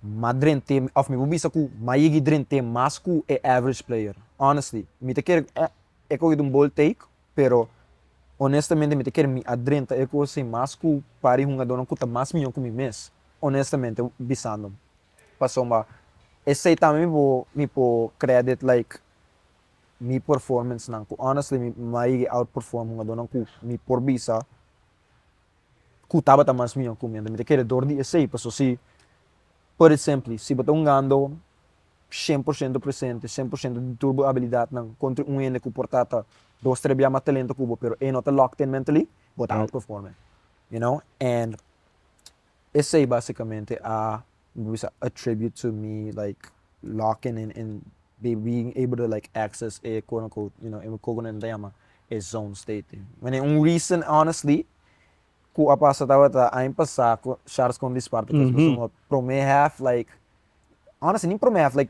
ma drent'é òf mi por bisa ku m'a yigi drent'é mas ku e average player, honestly. Mi ta kere eh e koki ta un bold take, pero honestamente mi ta kere mi a drenta e kos ei mas ku par di hungadónan ku ta mas mihó ku mi mes, honestamente bisando. Pasobra esei tambe mi por mi por credit like. mi performancenan cu honestly mi mi a yega outperform hungadornan cu mi por bisa cu tabata mas miho cu mi anto mi ta kere dor di esey pasobra si put it simply si bo ta hungando cien por ciento presente cien por ciento di tur bo habilidadnan contra un hende cu por tata dos tres bia mas talento cu bo pero e no ta locked in mentally bo ta outperforme you know and esey basicamente a. bo bisa a tribute to me like locking in in being able to like access e quote on quote you know e kiko nan ta yama e zone state i wene un reason honestly ku a pasa tabata aña pasa ku sharks con dispar because boso no a prome half like honestly ni prome half like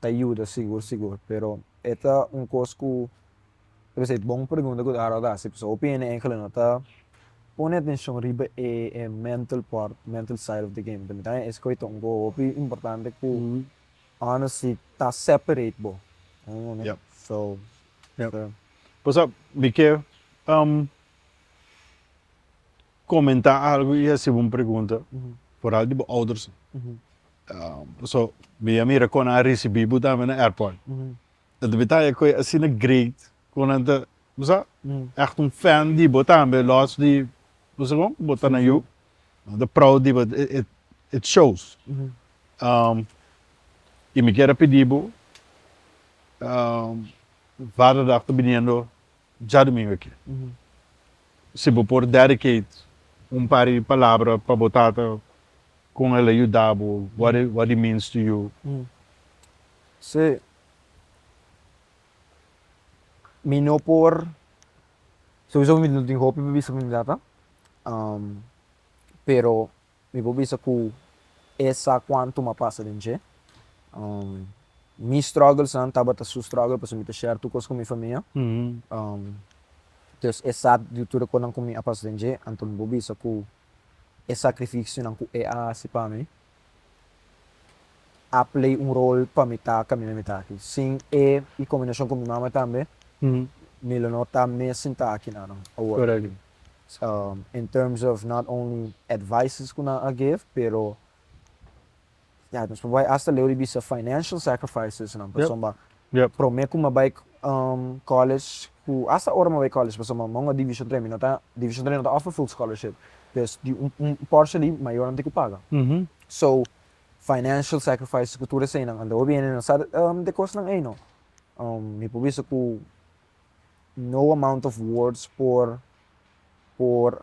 ta yuda sigur sigur pero e ta un kos ku tal bes e bon pregunta ku Harold a hasi pasobra hopi hende engelnan no ta pone atenshon riba e e mental pòrt mental side of the game ta mira nan escoge ta un goe hopi importante ku honesty ta separate bo so ta. Pasap mi ke. Comenta algo y hasibo un pregunta vooral di bo ouders. Paso mi a mira con nan a ricibi bo tambe na airport. Ta debe ta e coe asina great cu nan ta bo sa echt un fan di bo tambe los di bo sa con bo ta na yu. Nan ta proud di bo it shows. Y mi kier a pidi bo vader dag ta biniendo. Dja Dumingu aki, si bo por dedicate un par di palabra pa bo tata con el a yuda bo, what it what it means to you? Sí, mi no por, sousa mi no tin hopi pa bisa pa mi tata, pero. Mi por bisa ku e sa kuantu m'a pasa den dje. Mi strògelnan tabata su strògel pasobra mi ta share tur kos ku mi famia. Entonces e sa di tur e kosnan ku mi a pasa den dje, anto mi por bisa ku e sakrifisionan ku e a hasi pa mi a play un rol pa mi ta kaminda mi ta aki. Sin e, i kombinashon ku mi mama tambe, mi lo no ta mes sinta aki nan awor. So in terms of not only advices cu nan a give pero ya nos por bai hasta leu di bisa financial sacrifices nan pasobra prome cu mi bai college cu hasta ora mi bai college pasobra mi ungua division tres mi no ta division tres no ta offer full scholarship pues di un porshi di mayor nan tin cu paga so financial sacrifices cu tur esey nan a leu bieni nan sa de cos nan ey no mi por bisa cu No amount of words por por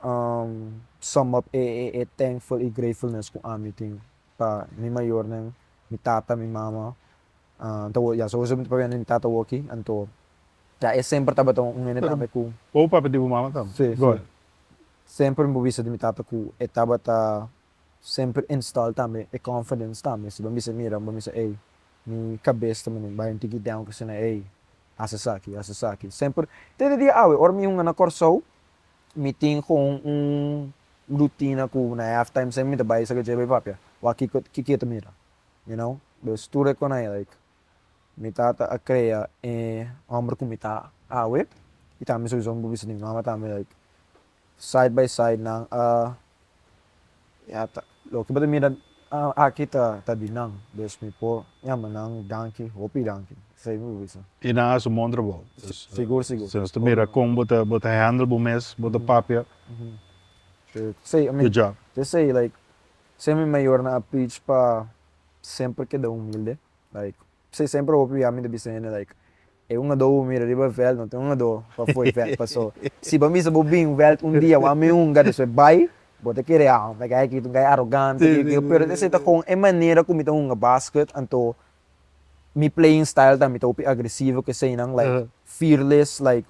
sum up e e thankful y gratefulness cu ami tin pa mi mayornan, mi tata, mi mama, ya so esey tabata wende mi tata wokey anto ya e semper tabata un hende tambe cu. Bo papia di bo mama tambe? Si si semper mi por bisa di mi tata cu e tabata semper install tambe e confidence tambe si bo mester mira bo mester ey mi cabes ta menen bay un tiki den cu sina ey haci esaki haci esaki semper te dia awe ora mi hunga na Corsou mi tin gewoon un rutina cu na half time semper mi ta bay saca djebe papia wak kico kico ta mira you know pues tur e con ey like mi tata a crea e homber cu mi ta awe y tambe sowieso mi por bisa tin mama tambe like Side by side nan a yata. Loke bo ta mira aki ta di nan, dus mi por yama nan danki, hopi danki. Esei mi por bisa. I nan a su mon trabou. Dus, Sigur, sigur. si nos ta mira kon bo ta bo ta handle bo mes, bo ta papia, good job. Te esei like, semi mayornan a preach pa semper keda humilde, like P'esei semper hopi bia mi ta bisa hende like, E un adó bo mira riba e vèlt, no tin un adó pa afó e vèlt. Paso, si bo a bisa bo bin vèlt un dia, bo a mi hunga, despues bai, bo ta kere, Ah, like ayaki ta un gai arogante, ke ke. Pero esei ta gewoon e manera ku mi ta hunga basket, anto mi playing style tambe ta hopi agresivo ku eseinan, like fearless, like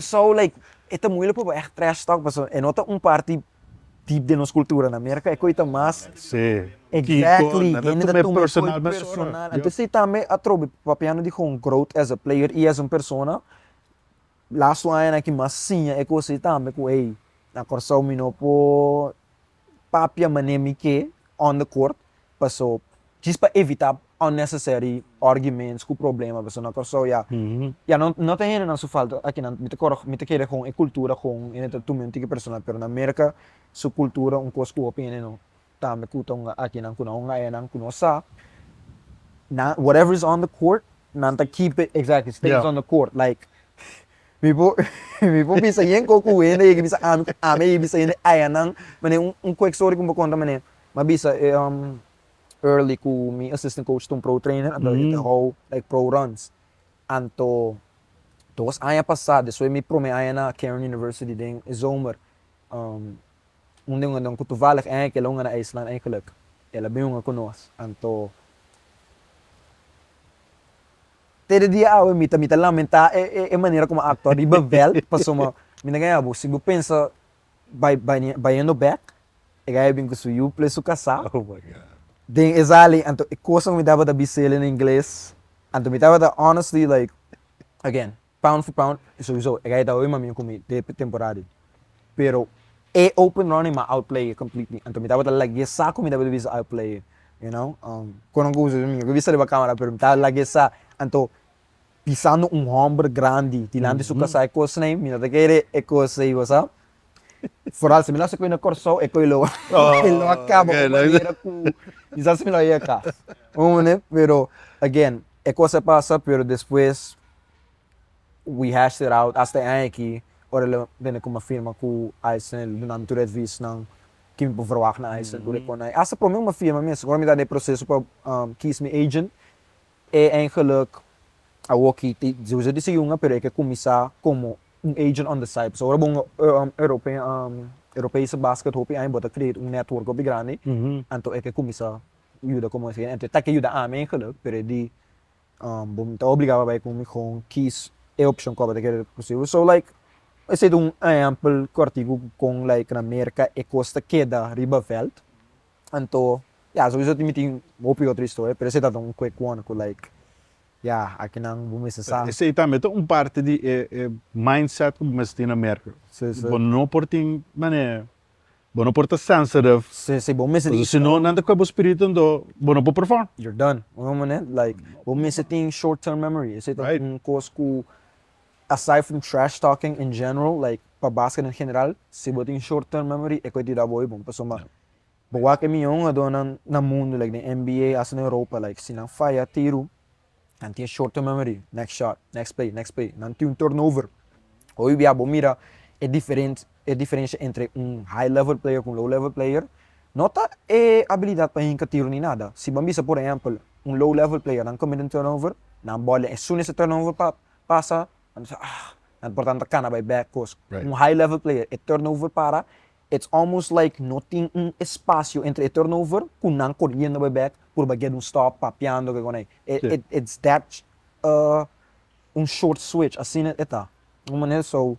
So like e ta muilek pa bo echt trash talk paso e no ta un parti deep den nos cultura na America e coi ta mas exactly hende ta tuma e coi personal anto esey tambe atrobe papiando di gon growth as a player y as un persona lastu añanan aki mas siña e cosey tambe cu hey na Corsou mi no por papia mané mi ke on the court paso djis pa evita unnecessary arguments ku problema paso na Kòrsou ya ya no no ta hendenan su falta akinan mi ta kòrda mi ta kere kon e kultura kon hende ta tuma un tiki personal pero na Merka su kultura un kos ku hopi hende no tambe ku ta hunga akinan ku nan hunga eyanan ku no sa nan whatever is on the court nan ta keep it exactly stays on the court like Mi por mi por bisa yen kos ku hende yeki bisa ami ku ami a yeki bisa hende ayanan manera un un kwek story ku mi por konta manera mi a bisa e Early ku mi assistant coach ta un pro trainer anto e ta hou like pro runs anto dos aña pasa despues mi prome aña na Cairn University den e zomer un den un ku toevallig e aña kila un a na IJsland eigenlijk el a bin hunga ku nos anto. Te de dia awe mi ta mi ta lamentá e e e manera ku mi a aktua riba vèlt, pasobra mi mi ta kaña bo, si bo pensa bai bai baiendo bèk, e gaya bin ku su yu ple su kasá, den esei alin, anto e kos ku mi tabata bis'é den ingles, anto mi tabata honestly like, again, pound for pound, sowieso e gaya tabata bin maminan ku mi den e temporada ei. Pero e open running m'a outplay completely. Anto mi tabata like di esa ku mi tabata bisa outplay e. You know? Um, kon a gozo esaki? Mi no ke bisa riba kamera pero mi ta like di esa. Anto pisando un hòmber grandi dilanti su kasá e kosnan mi no ta kere e kos ei basá. Foral si mi lo haci koe na Kòrsou e koe lo e lo a kaba un manera ku mi sa si mi lo yega kas. Bo kontende? Pero, again, e kos a pasa pero despues We hashed it out hasta e aña aki, ora el a bini ku mi firma ku Aysen, el a duna mi tur e advisnan ke mi por verwagt na Aysen, tur e konai. Hasta promé ku mi a firma mes, ora mi ta den e proseso pa kies mi agent, e eingeluk awoki ta sowieso di segunga, pero e ke kuminsá komo un agent on the side. Pasobra ora bo un Europese basket hopi aña bo ta create un network hopi grandi, anto e ke kuminsá yuda komo un agent. Anto e tak yuda ami eingeluk, pero e di Bo ta obligá pa bai ku mi kon kies e opshon ku bo ta kere rikusibu. So, like, esei ta un ehèmpel kòrtiku ku kon, like, na Merka e kos ta keda riba vèlt. Anto, ya, souso tin mi tin hopi otro historia, pero esei tabata un quick one ku, like, ya, akinan bo mester sa. Esei tambe ta un parti di e mindset ku bo mester tin na Merka. Bo no por tin manera Bo no por ta sensitive. Si bo mester di. Si no nan ta kohe bo spiritu ento bo no por perform. You're done. Un homber ne like bo mester tin short term memory. Esey ta un cos cu aside from trash talking in general like pa basquet en general si bo tin short term memory e kohe di rabo eybo. Pasobra ma bo wak e miyon jugadornan na mundo like den NBA hasta den Europa like si nan faya tiro Nan tin e short term memory, next shot, next play, next play, nan tin un turnover. Hoy dia bo mira e diferen e diferensha entre un high level player ku un low level player no ta e abilidat pa hinka tiro ni nada. Si bo a bisa por ehèmpel un low level player nan commit un turnover, nan bòl den esun esei turnover pa pasa, nan bisa ah nan por tantu a kana bai back kos. Un high level player e turnover para It's almost like no tin un espacio entre e turnover cu nan coriendo bay back por bay get un stop papiando ke konai. It's that un short switch, asina e ta. Un manera so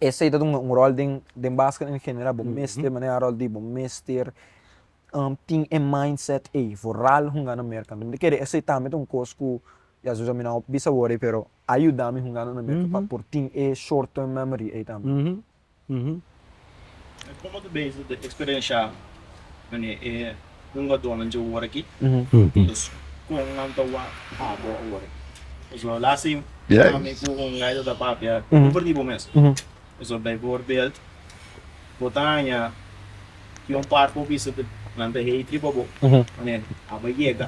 esey ta dunga un rol den basket en general, bo mester manera rol di, bo mester tin e mindset ey for ral hungando Merca. Mi ta kere esey tambe ta un cos cu ya sosa mi no bisa wor ey pero a yuda mi hungando na Merca pa por tin e short term memory ey tambe. Komo ta bisa di eksperenshia mane e hungadónan dje ora aki? Pues kon nan ta wak abo awor? Pues lo la si ami ku Ungay ta papia over di bo mes. Pues bijvoorbeeld bo ta haña di un par ku bisa ku nan ta hei triba bo mane abo a yega.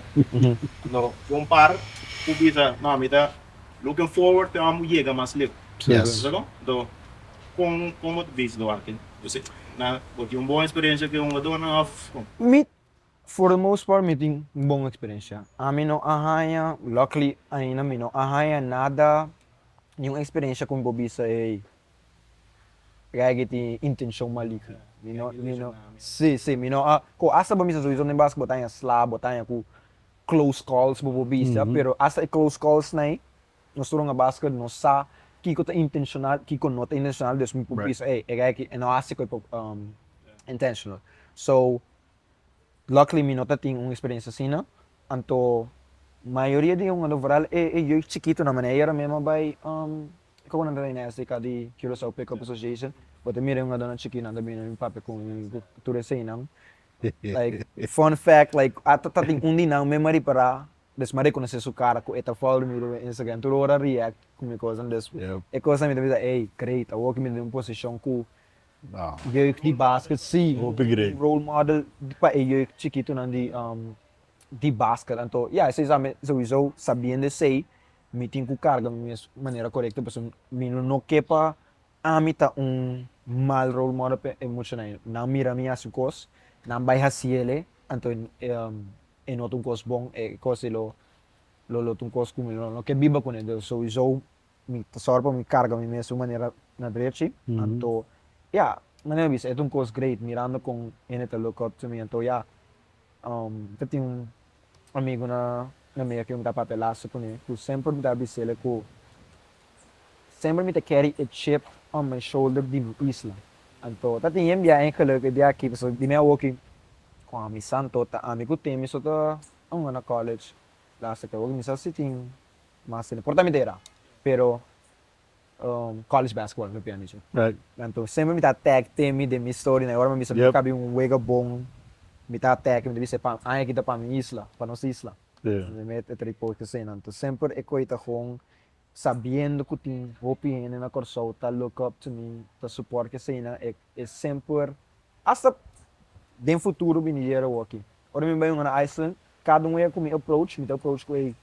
Lo un par ku bisa no ami ta. Looking forward te amo yega mas leu. Yes. Esaki kon? Enton, kon kon bo ta bisa lo aki? Bo si na bo tin un bon eksperensia ku e hongadornan òf kon? Mi, for the most part, mi tin un bon eksperensia. Ami no a haña, luckily ainda mi no a haña nada, niun eksperensia ku mi por bisa, ey, Reggie tin intenshon maligno. Mi no, mi no, si, si, mi no a, ko asta pa mi sa sowieso den basketbal ta haña slap, bo ta haña ku close calls bo por bisa, pero hasta e close calls nai nos ta runga base cu nos sa kico ta intencional, kico no ta intencional, dus mi por bisa ey, e geiachi e no haci cu e por intentional. So, luckily mi no ta tin un experiencia asina, anto mayoria di e hungador vooral e jeugd chikitonan, mane ayera mi a bay kico cu nan ta bay SDK di Curacao Pickup Association, bo ta mira e hungadornan chikinan ta bini na mi papia cu tur eseynan. Like, fun fact, like, ata ta tin un di nan mi maripa ra, despues mi a rekonosé su kara ku e ta follow mi riba Instagram, tur ora a react ku mi kos an despues. Yup. E kos an mi ta bisa, ey, great, awor ku mi ta den un posishon ku jeugd di basket sí, Hopi great. un role model pa e jeugd chikitunan di di basket. Anto, ya, esei sa mi souiso, sabiendo esei, mi tin ku karga mi mes manera korekto, pasobra mi lo no ke pa. Ami ta un mal role model pa e muchanan ei. Nan mira mi hasi kos, nan bai hasi el e, anto e no ta un kos bon, e kos ei lo lo ta un kos ku mi lo no ke biba ku nan. Entonces souso mi ta sòru pa mi karga mi mes un manera na drechi, anto ya, manera mi bisa e ta un kos great mirando kon hende ta look up to mi, anto ya, mi ta tin un amigunan na mi a kiunta papelasu ku mi ku semper mi ta bis'el'e ku semper mi ta carry e chip on my shoulder di mi isla. Anto ta tin yen biaha en geluk e biaha aki pasobra di mi awoki kon amisa anto ta ami ku temi so ta hunga na college la hasta ki awoki mi sa si tin mas tempu por ta mi dera pero college basketball mi piensa dici. Anto semper mi ta attack temi den mi historia, e ora mi bisa mi ka bin un wega bon, mi ta attack, mi ta bisa e aña aki ta pa mi isla, pa nos isla. Mi ta trae coach asina. Anto semper e koe ta gewoon sabiendo ku tin hopi hende na Kòrsou ta look up to mi, ta support mi asina, e e semper, hasta den futuro biniera awoki. Ora mi bai hunga na Iceland, kada un wega ku mi approach, mi ta approach ku ei.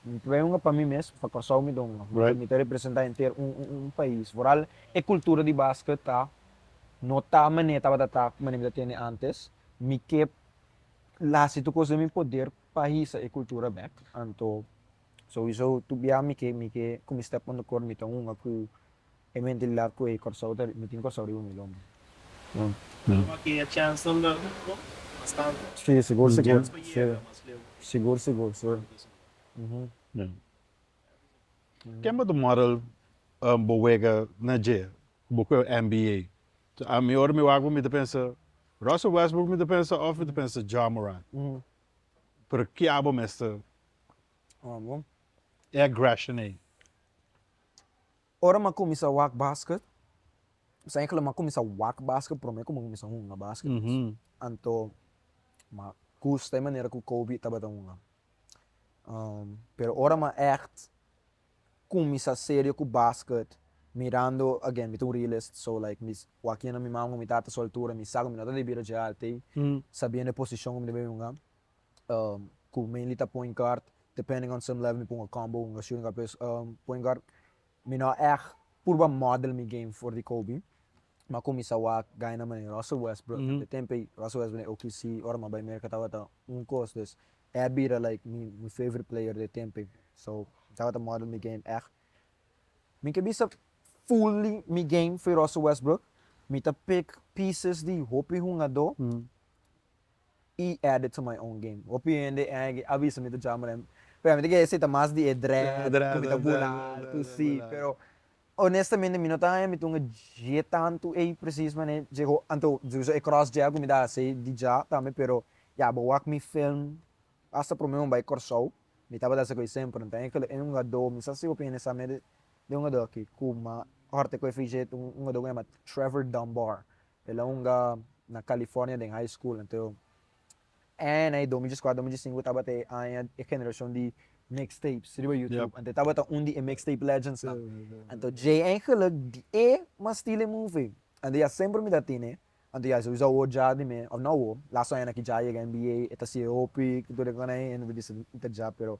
Mi pregunga pa mi mes, pa Kòrsou mi dònga, porque mi ta representá henter un un pais. Vooral e kultura di basket ta no ta manera tabata ta ku manera mi ta tende antes. Mi ke la hasi tur kos den mi poder pa hisa e kultura bèk. Anto, souiso tur bia mi ke mi ke ku mi stèp on de kort mi ta hunga ku. E mentilidad cu e Corsou ta miti in Corsou riba mi lomba. Alo ma ki e chance nan ta rubo bastante. Si sigur sigur si sigur sigur si uhum. Ken bo ta model bo wega na dje bo cu e nba so ami ora mi wak bo mi ta pensa Russell Westbrook mi ta pensa of mi ta pensa Ja Morant pero kia bo mester e aggression ey. Ora m'a kuminsá wak basket, mi sa yekla m'a kuminsá wak basket promé ku mi a kuminsá hunga basket mes. Anto m'a gusta e manera ku Kobe tabata hunga. pero ora m'a ègt kuminsá serio ku basket mirando, again, mi ta un realist, so, like, mi wak yena mi maman ku mi tata su altura, mi sa ku mi no ta debí a djigá al tei sabiendo e posishon ku mi ta bin hunga. Um, cu Mainly ta point guard, depending on some level mi pon a combo, un a shooting guard pues um point guard mi no a echt purba model mi game for di Kobe ma cu mi sa wak gaya na manera Russell Westbrook den e tempo ey, Russell Westbrook den OKC ora mi a bay Merca tabata un cos dus e a bira like mi mi favorite player den e tempo ey so mi tabata model mi game echt mi ke bisa fully mi game for Russell Westbrook mi ta pick pieces di hopi hungador i add it to my own game. Hopi hende eyigi a bisa mi ta jama den, pero mi ta kere seta mas di e dread ku mi ta bula altu si, pero honestamente mi no ta haña mi tunga dje tantu ei presis manera dje ho, anto dje so e cross dje ku mi ta hasi di dja tambe pero ya bo wak mi film hasta prome un bai Kòrsou mi tabata hasi ku ei semper mi ta haña kila ei un hadó mi sa si hopi hende sa mede den un hadó aki ku ma hòrte ku e fei dje un hadó ku a yama Trevor Dunbar El a hunga na California den high school. Anto aña e dos mil diescuatro, dos mil diescinco tabata e aña e generacion di mixtapes riba YouTube. Anto e tabata un di e mixtape legendsnan. Anto Djay en geluk di e mastil e move. Anto ya semper mi ta tene, anto ya sousa awo dja di mi, of no awo, laso añanan ki dja a yega NBA, e ta siye hopi, cu tur e cosnan, e no ta bisa mi ta dja pero.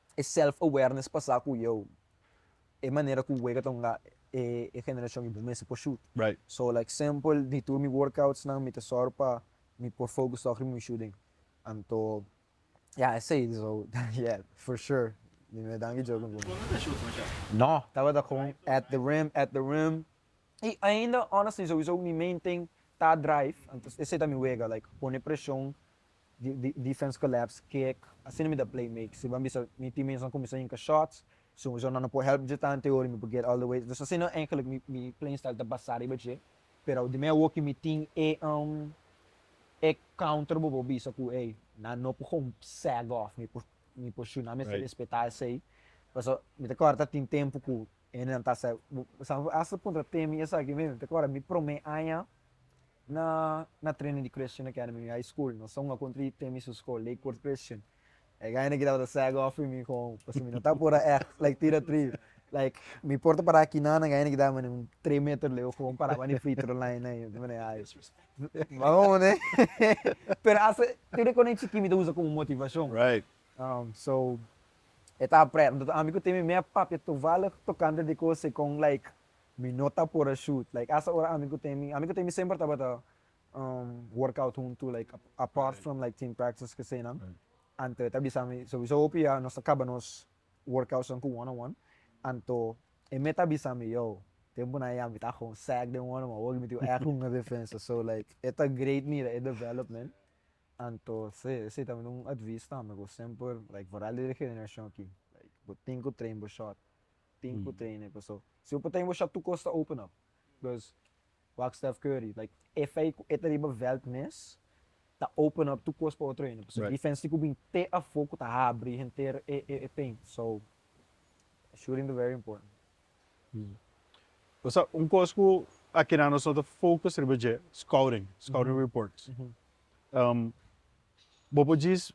e self awareness pasa ku yo e manera ku wega ta hunga e e generashon i bo mester por shut so like sempel di tur mi workouts nan mi ta sòru pa mi por focus tok riba mi shooting anto ya esei so yeah for sure mi me danki djou ku mi por shut tok riba mi shooting no tabata kon at the rim at the rim i ainda honestly souiso mi main ting ta drive anto esei ta mi wega like pone preshon Defense collapse kick, asina mi ta play make si ban bisa mi team mates nan cuminsa yinka shots, so nan no por help dje tante ora y mi por get all the way, dus asina eigenlijk mi mi playing style ta basa riba dje, pero di mi a woki mi tin e e counter bo por bisa cu ey nan no por con sag off mi por mi por shun nan mester respeta esey, pasobra mi ta corda ta tin tempo cu hendenan ta sa, bo bo sa hasta punto ta teme esaki mi, mi ta corda mi prome aña. Na na trene di Christian Academy High School, nos ta hunga kontra e temi su skol, Lakewood Christian. E gainan ki tabata sèg òf pi mi kon, pasobra mi no ta por a ègt like tira tri. Like, mi por ta pará kinan, nan gainan ki daba mi un tres meter leu kon paraba den free throw line nan, i ta mira ai. Bo a hopi ne? Pero hasta tur e kosnan chikí mi ta usa komo motivashon. So, e tabata prèt. Anto ami ku Temi mea papia tovalig tokante di kos ei kon, like. Mi no ta por a shoot like hasta ora ami ku temi ami ku temi semper tabata um workout huntu like a apart from like team practice kesenan anto e ta bisa mi sowieso hopi ya nos ta kaba nos workoutsnan ku one on one anto e me ta bisa mi yo tempunan ya mi ta haga un sack den one on one wak mi tin echi hunga defensa so like e ta great mira e development anto se esei ta un advies tambe ku semper like vooral di e generacion aki like bo tin ku train bo shot. tin ku traine paso si opo taim washa tu kos ta open up bikos wak Steph Curry like e fei ku e ta riba veld mes ta open up tu kos pa otro hende paso defense tin ku bin te afo ku ta habri henter e paint so shooting ta very important. Pasha un kos ku a keda nos no ta focus riba dje scouting scouting reports bo por djis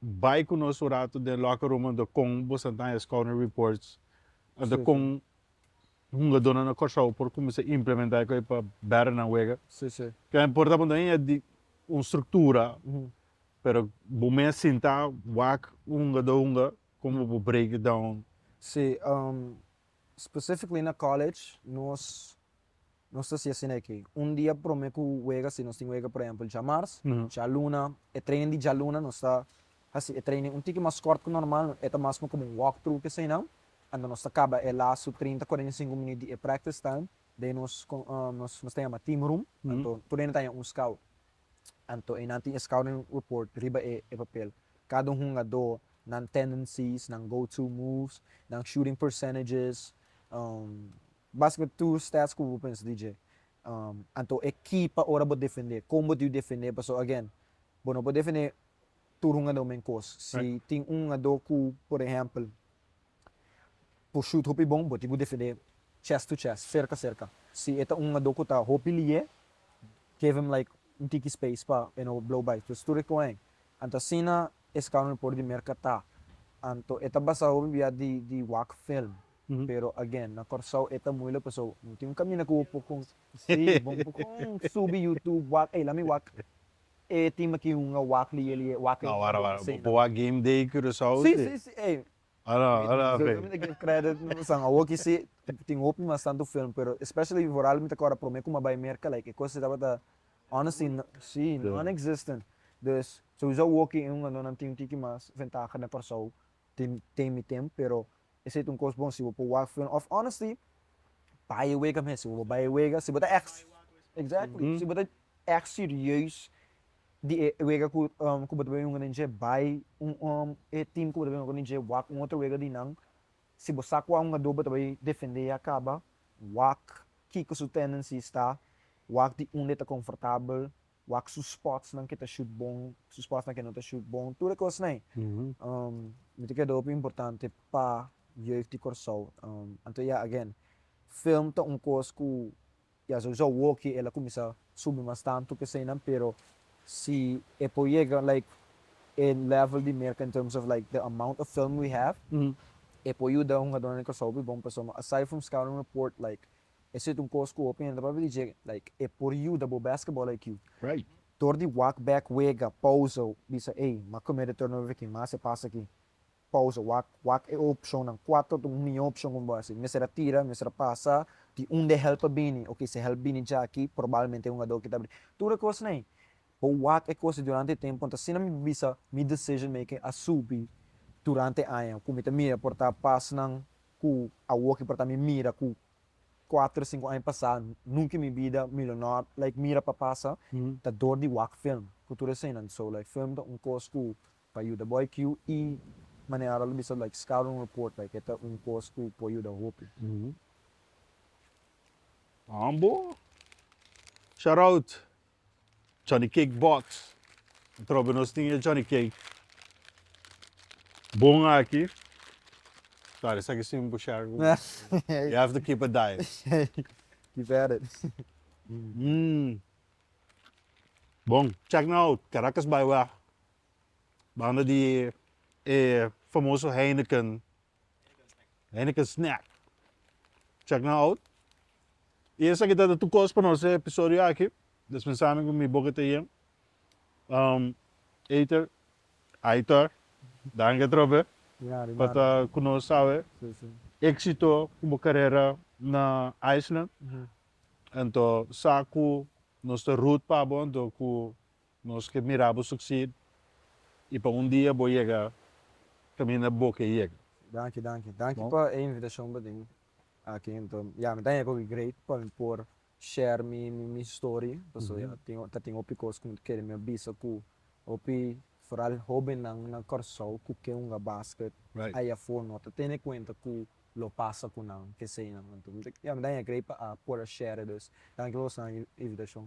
Bai ku nos un ratu den locker room anto kon boso a daña scouting reports anto kon hungadornan na Kòrsou por kuminsá implementá ku e pa bèra nan wega. Kende por ta punta mi e di un struktura pero bo mes sinta wak un hungadó hunga kon bo por break it down. Si, specifically na college nos Nos ta hasi asina aki, un dia prome ku wega si nos tin wega por ehempel djamars, djaluna, e training di djaluna nos ta hasi e training un tiki mas kort ku normal, e ta mas suma komo un walk through te eseinan, anto nos ta kaba e lasu trinta, kuarenta i sinku minüt di e practice time, de ahí nos nos ta yama team room, anto tur dena ta haña un scout, anto einan tin e scouting report riba e e papel, kada hungadó, nan tendencies, nan go to moves, nan shooting percentages, Bas cu tur stats cu bo pensa di dje. Anto e key pa ora bo defende, con bo dibi defende pasobra again bo no por defende tur hungador men cos. Si tin un hungador cu por ehempel por shoot hopi bon bo tin cu defende chest to chest, cerca cerca. Si e ta un hungador cu ta hopi liye give him like un tiki space pa e no blow by cos tur e coge ahí. Anto asina e scouting report di Merca ta. Anto e ta basa hopi bia di wak film. pero again na Corsou e ta muilek paso no tin un camina cu bo por con si bo no por con subi YouTube wak ey lami wak e tin maki un a wak li e li e wak ey no bo hasi nada Boa game day Curacao si si si ey mi ta give credit mi pasan awo aki si tin hopi mas tanto film pero especially di Foral mi ta acorda prome cu mi a bay Merca like e cosnan tabata honestly si non existent dus sousa awo aki e un ano nan tin un tiki mas ventaha na Corsou. tin tin mi tin pero esey ta un kos bon si bo por wak fun of honestly bai e wega mester bo bai e wega si bo ta echt exactly si bo ta echt serieus di e wega ku ku bo ta ben yunga den dje bai e team ku bo ta ben yunga den dje wak un otro wega di nan si bo sa kua un ado bo ta bai defende a kaba wak kiko su tendencies ta wak di unda e ta confortabel wak su spotsnan ke ta shut bon, su spotsnan ke no ta shut bon, tur e kosnan ei. Mi ta keda hopi importante pa Jeugd di Kòrsou. Anto ya again, film ta un kos ku ya sousou woki el a kuminsá subi mas tantu keseinan, pero si e por yega like e level di Merka in terms of like the amount of film we have, e por yuda hungadónan di Kòrsou hopi bon, pasobra aside from scouting report like Eso yet un cos cu hopi hende papia di dje like e por yuda bo basketball IQ. Right. Dor di wak bek wega, pausa, bisa ey ma come de turnover aki, ma haci pas aki, pausa, wak, wak e opcionnan, cuater ta un mijo opcion cu bo haci, mester a tira, mester a pasa, di un de help a bini, ok si help bini dja aki, probalmente e hungador aki ta bini. Tur e cosnan ey, bo wak e cosnan durante e temponan, ta asina mi ta bisa mi decision making a subi durante e aña, cu mi ta mira por ta pasnan ku awoki por ta mi mira ku kuater sinku aña pasá nunka i mi bida mi lo no a like mira pa pasa ta dor di wak film ku tur eseinan so like film ta un kos ku por a yuda bo IQ i manera a lo bisa like scouting report like e ta un kos ku por yuda hopi. Mambo. Shoutout. Johnny Cake Box. Antrobe nos tin e Johnny Cake bon aki. Sorry, esaki sin bushar ku mi. You have to keep a diet. Keep at it. Mmm. Bon. Check nou out Caracas Byway, banda di e famoso Heineken. Hende ke snèk chèk nan out i esaki ta tur kos pa nos e episodio aki desha pensando ku mi boka ta yen eiter aitor danki atrobe pa ta ku nos awe éksito ku bo karera na island anto sa ku nos ta root pa bo anto ku Nos ke mira bo succeed y pa un dia bo yega caminda bo ke yega. Danki danki danki pa e invitacion bo tin aki enton ya mi ta yega hopi great pa mi por share mi mi story pasobra ya tin ta tin hopi cos cu mi ta kere mi a bisa cu hopi foral hobennan na Kòrsou cu ke hunga basket ey afo no ta tene cuenta cu lo pasa cu nan keseynan enton ya mi ta yega great pa a por a share e dus danki pa bo san invitacion.